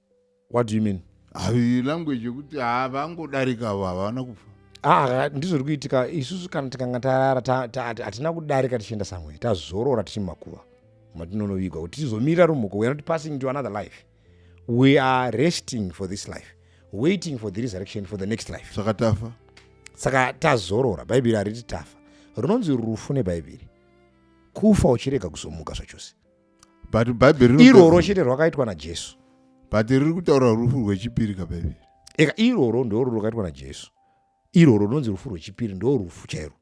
what do you mean Havi language yekuti havangodarika avo havana kufa Ah, ndizvo zviri kuitika isusu kana tikanga tarara ta- ta- hati- hatina kudarika tichienda samwe tazorora tichiri mumakuva matinonovigwa kuti tizomirira rumhuko we are not passing to another life we are resting for this life waiting for the resurrection for the next life saka tafa saka tazorora bhaibheri hariti tafa rinonzi rufu nebhaibheri kufa uchirega kuzomuka zvachose but bhaibheri iroro chete rwakaitwa najesu but riri kutaura rufu rwechipiri kabhaibheri eka iroro ndoro rwakaitwa najesu iroro rinonzi rufu rwechipiri ndo rufu chairo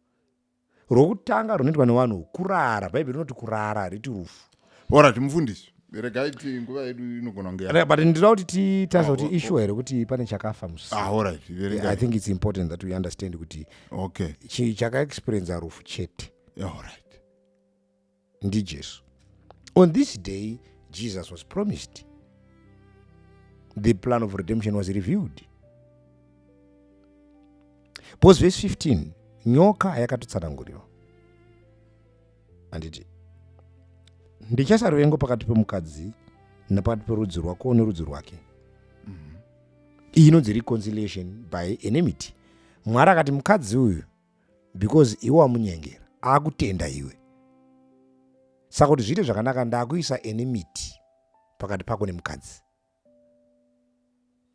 rwokutanga runoitwa nevanhu kurara bhaibheri rinoti kurara hariti rufu orati mufundisi regai ti nguva yedu inogona kunge but ndinoda kuti titarise kuti ah, ishuwa here kuti pane chakafa musisi ah, i think its important that we understand kuti okay chakaexperienza rufu chete yeah, alright ndijesu on this day jesus was promised the plan of redemption was revealed bcause verse 15 nyoka yakatotsanangurirwa handiti ndichasa ruvengo pakati pemukadzi nepakati perudzi rwako nerudzi rwake mm-hmm. iyi inonzi reconciliation by enemity mwari akati mukadzi uyu because iwe wamunyengera akutenda iwe saka kuti zviite zvakanaka ndakuisa enimity pakati pako nemukadzi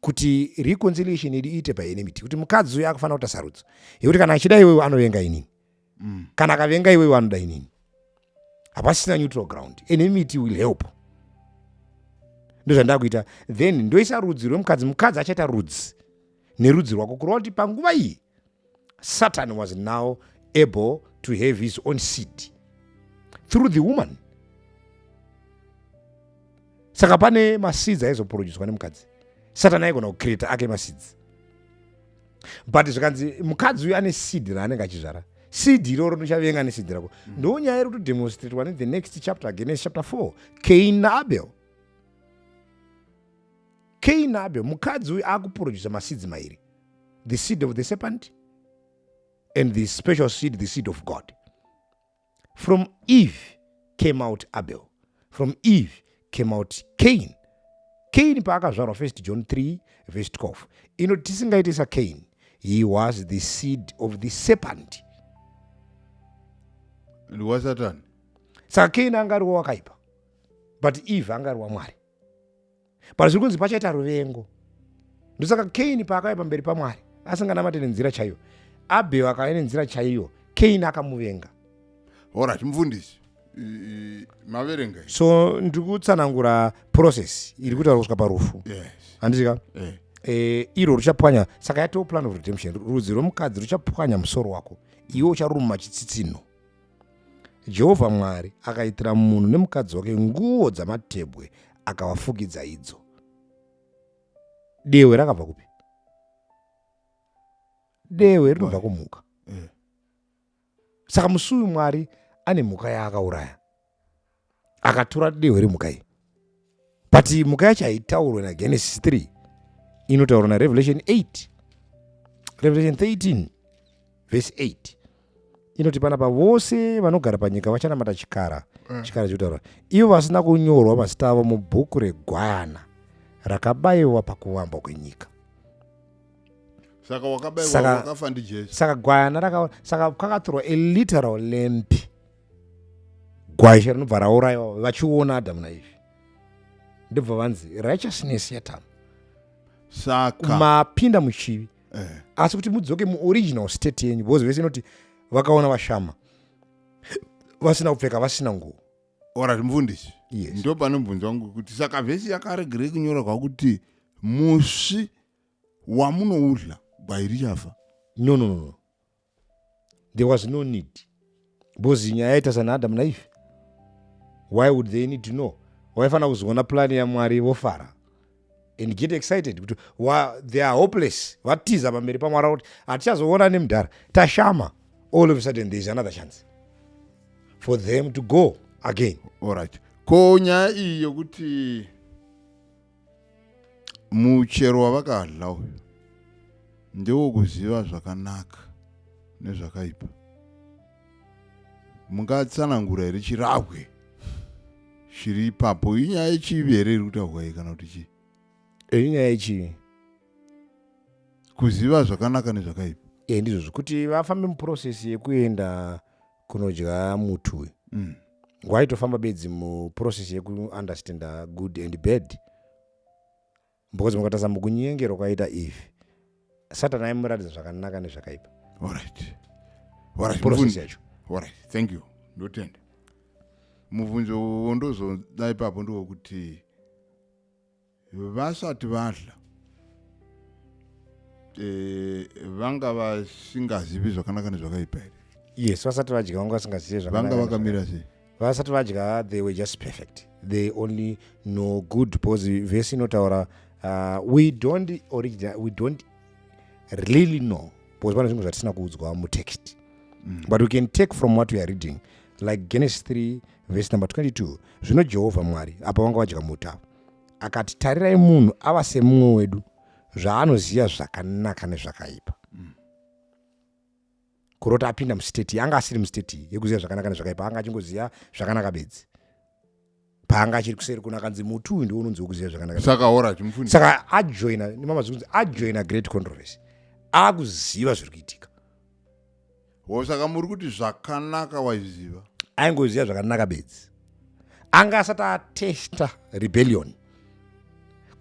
kuti reconciliation idi iite paenimity kuti mukadzi uyo akufanira kuita sarudzo yekuti kana achida iwewe anovenga inini mm. kana akavenga iwewe anoda inini hapasina neutral ground enimity will help ndozvandakuita then ndoisa rudzi rwemukadzi mukadzi achaita rudzi nerudzi rwako kureva kuti panguva iyi Satan was now able to have his own seed through the woman. Saka pane maseeds aizoproducwa nemukadzi. Satan aigona kucreata ake maseeds. But zvikanzi mukadzi uyu ane seed raanenge achizvara. Seed iroro ndichavenga neseed rako. Mm. Ndo nyaya iri kutodemonstratewa ne the next chapter Genesis chapter 4 Cain naAbel. Keinabe mukadzi uyu akuproducer maseeds mairi the seed of the serpent and the special seed the seed of God from Eve came out Abel from Eve came out Cain Cain paakazvarwa first John 3 verse 12 ino tisingaite sa Cain he was the seed of the serpent liwa satani saka Cain angariwa wakaipa but Eve angariwa Mwari but zviri kunzi pachaita ruvengo ndosaka kaini paakauya pamberi pamwari asinganamate nenzira chaiyo abheo akauya nenzira chaiyo kaini akamuvenga orit mufundisi maverenga so ndiri kutsanangura process iri kutaura kusvika parufu handizika eh. eh, iro ruchapwanya saka yatoo plan of redemption rudzi rwemukadzi ruchapwanya musoro wako iwe ucharuma chitsitsinho Jehovha Mwari akaitira munhu nemukadzi wake nguo dzamatebwe akavafukidza idzo. Dehwe rakabva kupi? Dehwe rinobva kumhuka. Mm. Saka musuwi Mwari ane mhuka yaakauraya. akatora dehwe remhuka iyi but mhuka yacho haitaurwe nagenesis 3 inotaurwa narevelation 8 revelation 13 vese 8 inoti panapa vose vanogara panyika vachanamata chikara mm. chikara chikutaura ivo vasina kunyorwa mazita avo mubhuku regwana rakabayiwa pakuvambwa kwenyika saka gwayana saka kwakatorwa a literal lamp gwayishe rinobva raurayiwa vachiona adamu naivhi ndobva vanzi righteousness yatamu saka mapinda muchivi eh. asi kuti mudzoke muoriginal state yenyu because vese inoti vakaona vashama vasina kupfeka vasina nguo orati mufundisi yes. ndo pane mubvunzo wangu kuti saka vhesi yakaregerei kunyora kwakuti musi wamunoudla gwai richafa no no no there was no need because nyaya yaita sana adam naive why would they need to know waifanira kuzoona plani yamwari vofara and get excited kuti they are hopeless vatiza pamberi pamwari kuti hatichazoona nemudhara tashama all of a sudden there is another chance for them to go again allright ko nyaya iyi yokuti muchero wavakadla uyu ndewo kuziva zvakanaka nezvakaipa mungatsanangura here chirahwe chiri ipapo inyaya yechivi here iri kutaurwa iyi kana kuti chii eh, inyaya yechivi kuziva zvakanaka nezvakaipa e ndizvo zvekuti vafambe muprocess yekuenda kunodya muti uyu mm. waitofamba bedzi muprocess yekuunderstanda good and bad because mukatasa mukunyengerwa kwaita ivi satani aimuratidza zvakanaka nezvakaipa process yacho thank you ndotenda mubvunzo wondozoda ipapo ndowokuti vasati vadla eh, vanga vasingazivi zvakanaka nezvakaipa here yes vasati vadya vanga vasingazivi vanga vakamira sei vasati vadya they were just perfect they only know good because vese inotaura uh, we don't original we don't really know because pane zvinhu zvatisina kuudzwa mutext mm. but we can take from what we are reading like genesis 3 verse number 22 zvino jehovha mwari apa vanga vadya muta akati tarirai munhu ava semumwe wedu zvaanoziva zvakanaka nezvakaipa mm. kurota apinda musteti yanga asiri musteti yekuziva zvakanaka nezvakaipa anga achingoziva zvakanaka bedzi paanga achiri kuseri kuno akanzi muti uyu ndiwo unonzi wekuziva zvakanakasaka ajoina nemama zvikunzi ajoina great controversy akuziva zviri kuitika Ho saka muri kuti zvakanaka waiziva? Aingoziva zvakanaka bedzi. Anga asati atesta rebellion.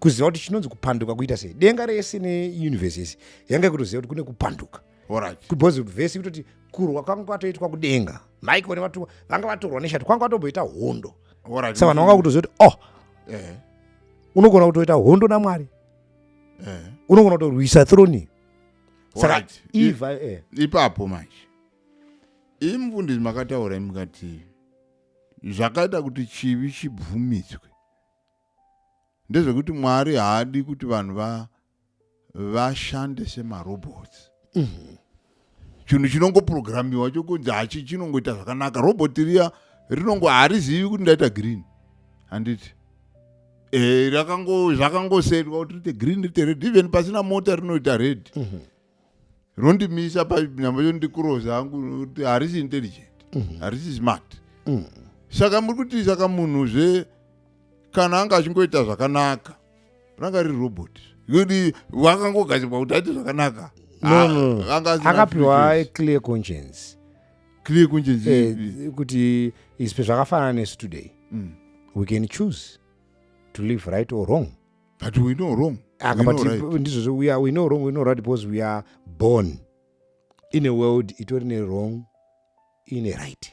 Kuziva kuti chinonzi kupanduka kuita sei. Denga rese neuniverse yese yanga ikutoziva kuti kune kupanduka. Alright. Because verse kutoti kurwa kwanga kwatoitwa kudenga. Michael nevatumwa vanga vatorwa neshati kwanga kwatomboita hondo. Alright. Saka vanhu vanga kutoziva kuti oh. Eh. Unogona kutoita hondo naMwari. Eh. Unogona kutorwisa throne. saka iva eh. ipapo manje imi mfundisi makataura imi kati zvakaita kuti chivi chibvumiswe ndezvekuti mwari haadi kuti vanhu vashande semarobots mm -hmm. chinhu chinongoprogramiwa chokunzi hachi chinongoita zvakanaka robot riya rinongo harizivi kuti ndaita green handiti e, zvakangosetwa kuti rite green rite red even pasina mota rinoita red mm -hmm. rondimisa panyamba chondikuroza hangu kuti harisi intelligent mm -hmm. harisi smart mm -hmm. saka muri kuti saka munhu zve kana anga achingoita zvakanaka ranga riri robot kuti wakangogadzirwa kuti aite zvakanaka no, no. Ah, anga asina akapiwa free choice. clear conscience clear kunjinzi Eh, kuti ispe zvakafanana nesu today Mm. we can choose to live right or wrong but we know wrong Aka, We but know right. ndizvozvo we, are- we know wrong we know right because we are born in a world itori ne wrong ine right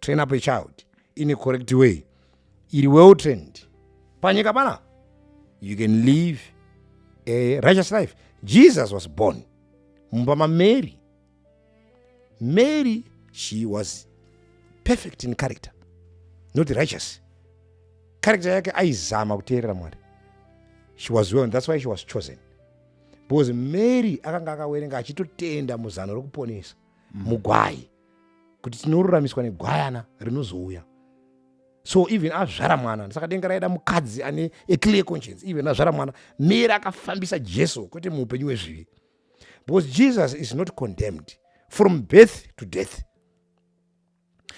train up a child in a correct way iri well trained panyika pana you can live a righteous life jesus was born mumba mamary mary she was perfect in character not righteous character yake aizama kuteerera mwari she was well that's why she was chosen because mary akanga akawerenga achitotenda muzano rokuponesa mm. mugwai kuti tinoruramiswa negwayana rinozouya so even azvara mwana saka denga raida mukadzi ane aclear conscience even azvara mwana mera akafambisa jesu kwete muupenyu wezvivi because jesus is not condemned from birth to death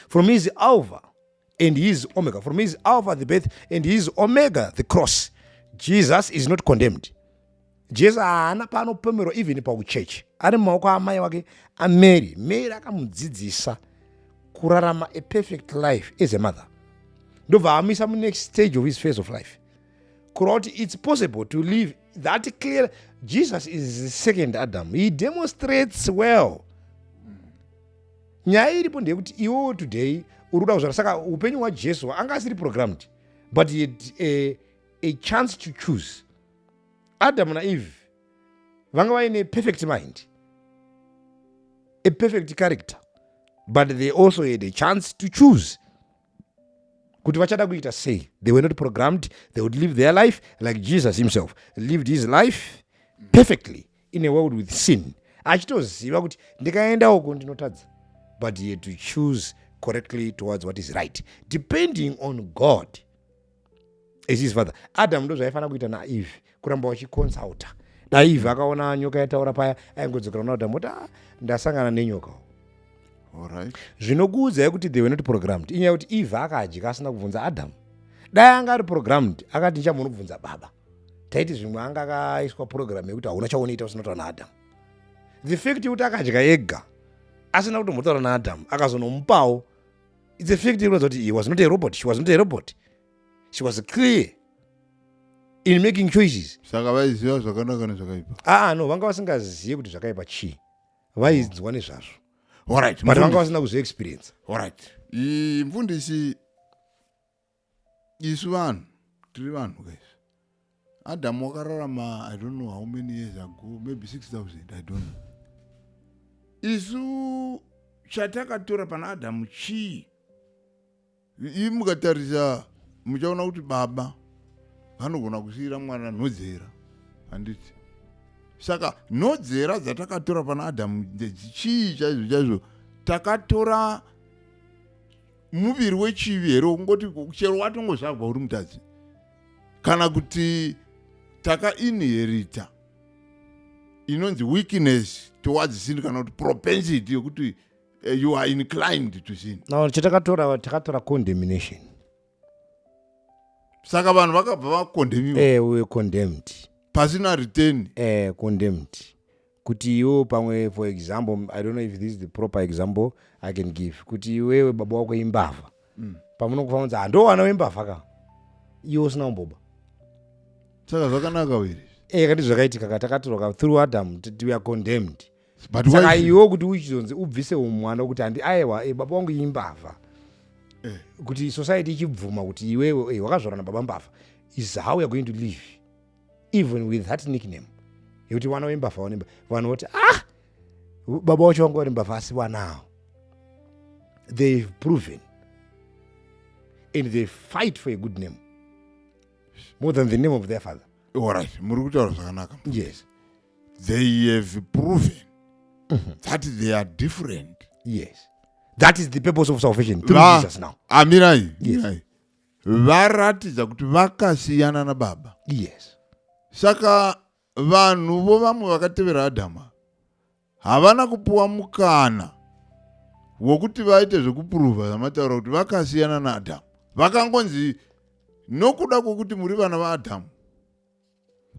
from his alva and he is omega from his alpha the birth and he is omega the cross jesus is not condemned jesu haana paanopomerwa even pauchechi ari mumaoko amai wake amary mary akamudzidzisa kurarama a perfect life as a mother ndobva amuisa munext stage of his face of life kureva kuti it's possible to live that clear jesus is the second adam he demonstrates well nyaya iripo ndeyekuti iwewo today uri kuda kuzvara saka upenyu hwajesu anga asiri programmed but he had a, a chance to choose adamu naeve vanga vaine perfect mind a perfect character but they also had a chance to choose kuti vachada kuita sei they were not programmed they would live their life like jesus himself lived his life perfectly in a world with sin achitoziva kuti ndikaenda uko ndinotadza but he had to choose correctly towards what is right depending on god as his father adam ndo zvaifanira kuita naeve kuramba vachiconsulta daieve akaona nyoka yataura paya aingodzokera kuna adam oti ah, ndasangana nenyoka right. zvinokuudzai kuti they were not programmed inyaya kuti eve akadya asina kubvunza adam dai anga ari programmed akati nichambo unobvunza baba taiti zvimwe anga akaiswa purogiramu yekuti hauna chaunoita usinotaura naadhamu the fact yekuti akadya ega asina kutombotaura naadhamu akazonomupawo its a fact inoratidza kuti he was not a robot she was not a robot she was clear in making choices saka vaiziva zvakanaka nezvakaipa aa ah, no vanga vasingazivi kuti zvakaipa chii vainzwa nezvazvo but vanga vasina kuzviexperience mfundisi isu vanhu tiri vanhu guys adam wakararama i don't know how many years ago maybe 6000 i don't know isu chatakatora pana adamu chii ii mukatarisa muchaona kuti baba vanogona kusiyira mwana nhodzera handiti saka nhodzera dzatakatora pana adamu ndedzichii chaizvo chaizvo takatora muviri wechivi here wokungoti chero watongozvarwa uri mutadzi kana kuti takainherita inonzi weakness towards sin kana kuti propensity yokuti uh, you are inclined to sin no chatakatora takatora condemnation saka vanhu vakabva vakondemiwa eh, we condemned pasina return eh, condemned Kuti iwewe pamwe for example, I don't know if this is the proper example I can give. Kuti iwewe baba wako imbavha. Mm. Pamunokufa munzi hando wana wembavha ka. Iwe usina kumboba. Saka zvakanaka wiri. Eh, kati zvakaitika ka takatorwa ka through Adam we are condemned. But Saka why? Iwe kuti uchizonzi ubvise umwana kuti handi aiwa eh, baba wangu imbavha. Eh. Kuti society ichibvuma kuti iwewe eh, wakazvarana baba mbavha is how you are going to live. even with that nickname yekuti vana vembavha vanemba vanhu voti ah baba wacho vanga vari mbavha asi vanawo they've proven and they fight for a good name more than the name of their father orit muri kutaura zvakanaka yes they have proven mm -hmm. that they are different yes that is the purpose of salvation through ah, jesus now amirai yes. varatidza kuti vakasiyana nababa yes saka vanhu vo vamwe vakatevera adhama havana kupiwa mukana wokuti vaite zvekupuruvha zvamataura kuti vakasiyana naadhamu vakangonzi nokuda kwokuti muri vana vaadhamu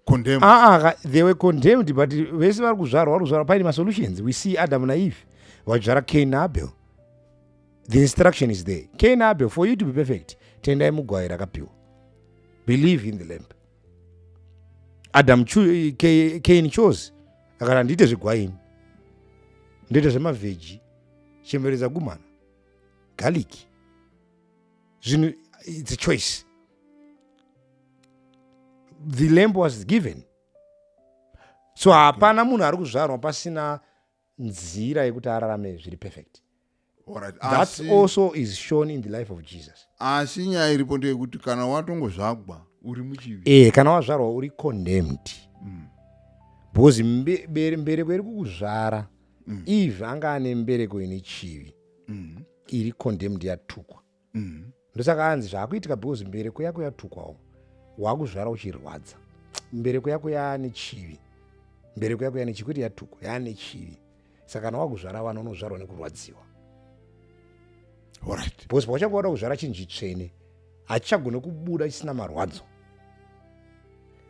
condemned. Ah, ah, they were condemned, but vese vari kuzvarwa vari kuzvarwa paine masolutions. We see Adam na Eve vachizvara Cain na Abel. The instruction is there. Cain na Abel, for you to be perfect, tendai mugwai rakapiwa. Believe in the lamb. Adam Cain chose akati handiite zvegwaini, ndoita zvemavheji, chembere dzagumana, garlic, zvinhu, it's a choice. the lamp was given so hapana munhu ari kuzvarwa pasina nzira yekuti ararame zviri perfect Alright, that asi- also is shown in the life of jesus asi nyaya iripo ndeyekuti kana watongozvagwa uri muchivi e kana wazvarwa uri condemned because mbe- bere- mbereko iri kukuzvara eve anga ane mbereko ine chivi iri condemned yatukwa mm. ndosaka anzi zvaakuitika because mbereko yako yatukwawo waakuzvara uchirwadza mbereko yako yaane chivi mbereko yako yaane chivi kwete yatukwa yaane chivi saka kana wakuzvara vana unozvarwa nekurwadziwa right. because pawachanga wada kuzvara chinhu chitsvene hachichagone kubuda chisina marwadzo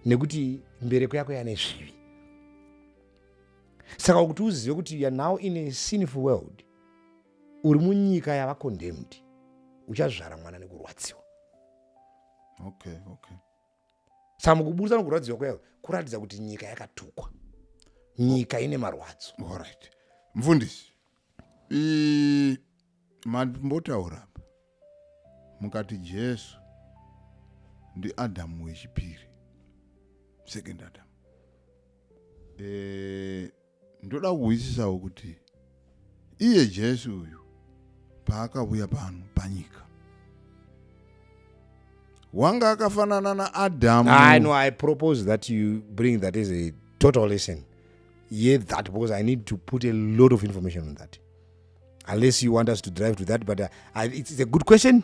nekuti mbereko yako yane zvivi saka kuti uzive kuti youare now in a sinful world uri munyika yava condemned uchazvara mwana nekurwadziwa okay okay saka kuburitsa nokurwadziwa kuya kuratidza kuti nyika yakatukwa nyika ine marwadzo orit mfundisi mambotaura pa mukati jesu ndiadamu wechipiri second adam e, ndoda kuhwisisawo kuti iye jesu uyu paakavuya pano panyika wanga akafanana naadhamu i know i propose that you bring that as a total lesson ye that because i need to put a lot of information on that unless you want us to drive to that but uh, I, it's, it's a good question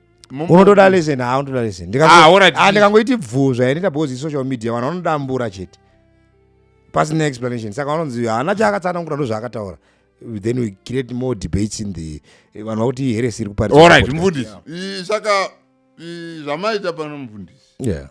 unotoda lesson ha unotoda lesson ndikangoiti ah, bvuzva yanita because isocial media vanhu vanodambura chete pasina explanation saka vanonzi haana chaakatsanangura ndozvaakataura then we create more debates in the eh, vanhu vakuti iheresi iri kuparisaka zvamaita pano mufundisi yeah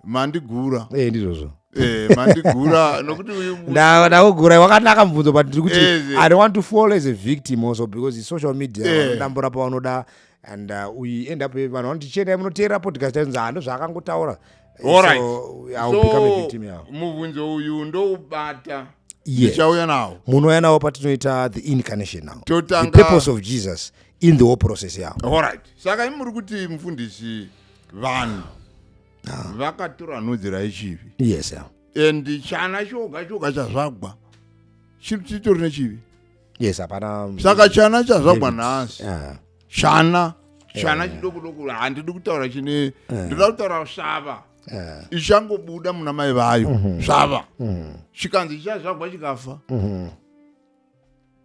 mandigura eh ndizvozvo eh mandigura nokuti uyu na nakugura wakanaka mubvunzo but ndiri kuti eh, eh. i don't want to fall as a victim also because the social media eh. vanodambura eh. pavanoda and uh, we end up vanhu vanoti chiendai munoteera podcast aizonzi hando ah, zvaakangotaura Alright. So, I will so, become a victim yao. Mubvunzo uyu ndoubata tichauya yes. nawo munouya nawo patinoita the incarnation now Totanga... the purpose of jesus in the whole process yao. Alright. Saka imi muri kuti mufundisi vanhu vakatura nhudzi raichivi yes yeah. and chana choga choga chazvagwa chiri chitori nechivi yes hapana um, saka chana chazvagwa nhasi yeah. chana chana yeah. chidoko doko handidi kutaura chine yeah. ndinoda kutaura svava yeah. ichangobuda muna mai vayo mm -hmm. svava mm -hmm. chikanzi chazvagwa chikafa mm -hmm.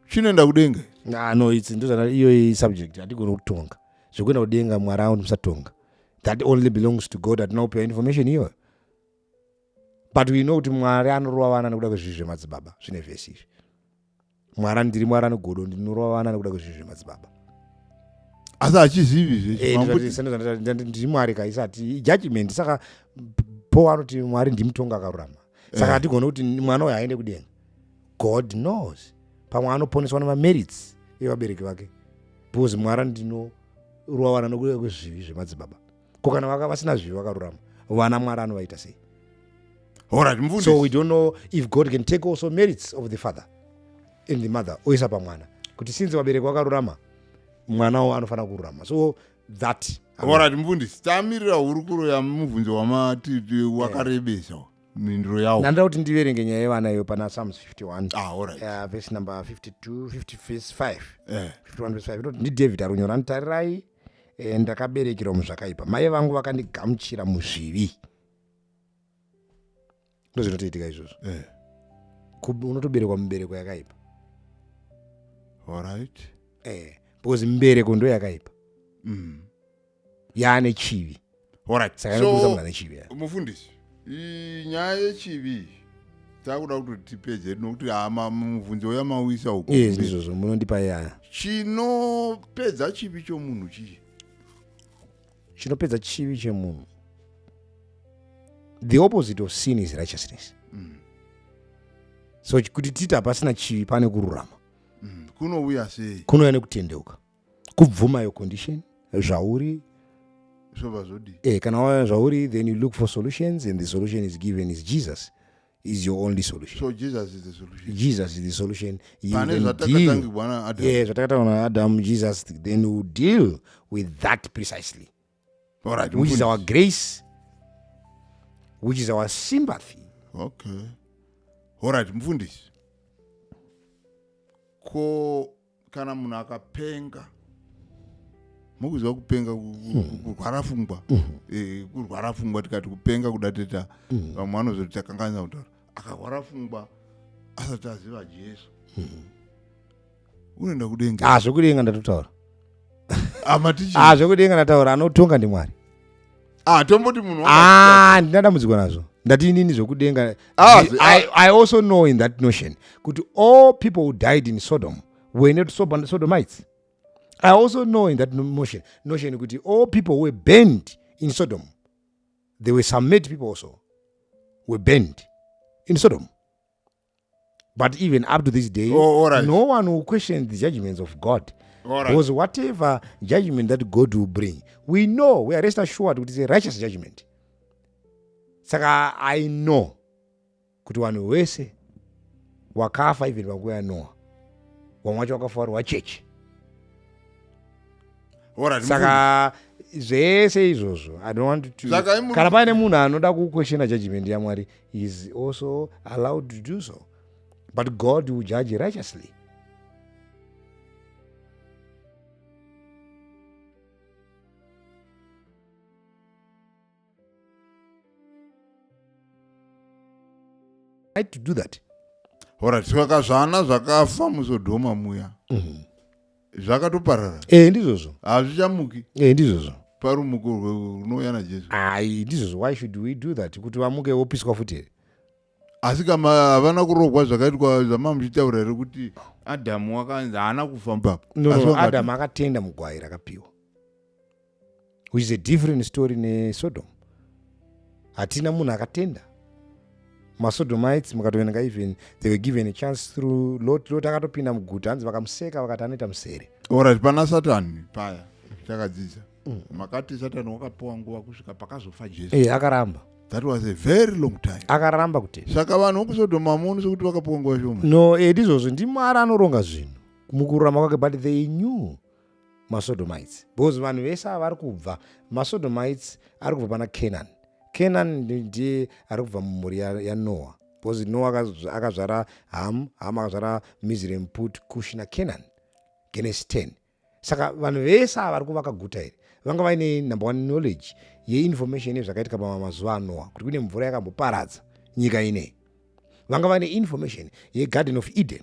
chinoenda kudenga nah, no it's ndozana iyoyi subject hatigoni kutonga zvekuenda kudenga mwari awo ndimusatonga that only belongs to god hatina kupiwa information iyoyo but we know kuti mwari anorova vana nekuda kwezvii zvemadzibaba zvine vhesi izvi mwari ndiri mwari anogodo ndinorova vana nekuda kwezvii zvemadzibaba asi hachizivi zvendiri eh, mwari kaisati judgment saka po anoti mwari ndimutonga akarurama saka eh. hatigone kuti mwana uyo aende kudenga god knows pamwe anoponeswa nemamerits evabereki vake because mwari andinorova vana nokuda kwezvivi zvemadzibaba ko kana vaka vasina zvivi vakarurama vana mwari anovaita sei so we don't know if god can take also merits of the father and the mother oisa pamwana kuti since vabereki vakarurama mwanawo anofanira kururama so that orit mfundisi tamirira hurukuro yamubvunzo wamati wakarebesa mhinduro yawo ndandoda kuti ndiverenge nyaya yevana iyo pana psalms 51 ah, alright. uh, verse number 52 50 verse 5 Eh. 51 verse 5 inoti ndidavid arunyora nditarirai eh, ndakaberekerwa muzvakaipa mai vangu vakandigamuchira muzvivi ndozvinotoitika izvozvo Eh. Kub- unotoberekwa mubereko yakaipa alright eh, because mbereko ndo yakaipa mm. yaane chivi Alright. Saka anokurudzira So, munhu ane chivi yeah. mufundisi i- nyaya yechivi takuda kuti tipedze nokuti ah, ma- mubvunzo yamauisa uko yes kumberi. ndizvozvo munondipa yana chinopedza chivi chomunhu chii chinopedza chivi chemunhu the opposite of sin is righteousness so kuti titi hapasina chivi pane kururama Mm, kunouya sei kunouya nekutendeuka kubvuma your condition zvauri zvobva zvodi eh, kana waona zvauri then you look for solutions and the solution is given is jesus is your only solution so jesus is the solution jesus is the solution pane zvatakatangirwa na adam yeah zvatakatangirwa na adam jesus then you deal with that precisely Alright, which is mufundisi. our grace which is our sympathy okay horit mufundisi ko kana munhu akapenga mukuziva kupenga ku- ku- ku- kurwara fungwa Eh, kurwara fungwa tikati kupenga kuda teta vamwe vanozoti takanganisa kutaura akarwara fungwa asati aziva jesu unoenda kudenga ah zvekudenga ndatotaura amatichi ah zvekudenga ndataura anotonga ndimwari ah tomboti munhu waka- ah ndina dambudziko nazvo ndati inini zvekudenga Ah, zi- I, i also know in that notion kuti all people who died in sodom were not Sob- sodomites i also know in that no- motion notion kuti all people who were burned in sodom there were some made people also were burned in sodom but even up to this day oh, right. no one will question the judgments of god right. because whatever judgment that god will bring we know we are rest assured kuti it's a righteous judgment saka i know kuti vanhu wese wakafa even vanguva yanoa vamwe wacho wakafa vari wachechi right, saka zvese izvozvo i don't want to kana paine munhu anoda kukweshena judgment yamwari he is also allowed to do so but god will judge righteously right to do that horatiswakazvana zvakafa muzodhoma muya mm -hmm. zvakatoparara e, ndizvozvo hazvichamuki e, ndizvozvo parumuko runouya najesu ai ndizvozvo why should we do that kuti vamuke wopiswa futi here asi kama havana kurogwa zvakaitwa zvamamuchitaura here kuti adamu wakanzi haana kufa mbapo no, no, adamu akatenda mugwai rakapiwa which is a different story nesodom hatina munhu akatenda masodomites mukatoverenga even they were given a chance through lot lot akatopinda muguta hanzi vakamuseka vakati anoita musere orit pana satani paya takadzidza mm. makati satani wakapiwa nguva kusvika pakazofa jesu hey, eh, akaramba that was a very long time akaramba kuti saka vanhu vokusodoma muno sekuti vakapiwa nguva shoma no edi eh, izvozvo ndimwari anoronga zvinhu mukururama kwake but they knew masodomites because vanhu vese ava vari kubva masodomites ari kubva pana canaan canaan ndiye ari kubva mumhuri yanoa because noa akazvara ham ham akazvara mizre mput kush nacanaan genesi 10 saka vanhu vese ava vari kuvaka guta iri vanga vaine number one knowledge yeinformation yezvakaitika pamazuva anoa kuti kune mvura yakamboparadza nyika inei vanga vaine information yegarden of eden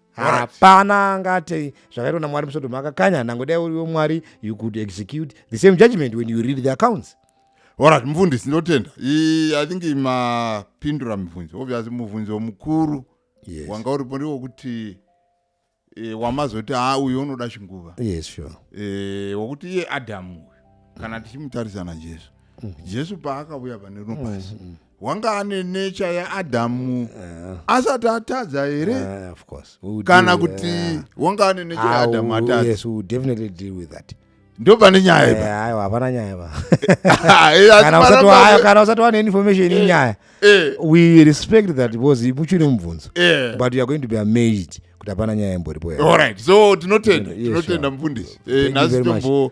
hapana angati zvakaitwa namwari musodoma akakanya nhango dai uriwo mwari you could execute the same judgment when you read the accounts orat mufundisi ndotenda i think mapindura mibvunzo obvious mubvunzo mukuru yes. wanga uripo ndiwo kuti e, wamazoti a uyu unoda chinguva yes, sure. e, wokuti iye adamu uyu kana tichimutarisa najesu mm -hmm. jesu paakauya pane rino pasi mm -hmm. wanga ane nature yaadhamu eh. asati atadza here eh, kana kuti eh. wanga ane nature ah, yaadhamu atadza ndo pane nyaya ipaaiwa hapana nyaya pakana usati wane information inyaya we respect that because imuchine mubvunzo but youare going to be amazed kuti hapana nyaya imboripo so tinotenda tinotenda mufundisi nhasi tombo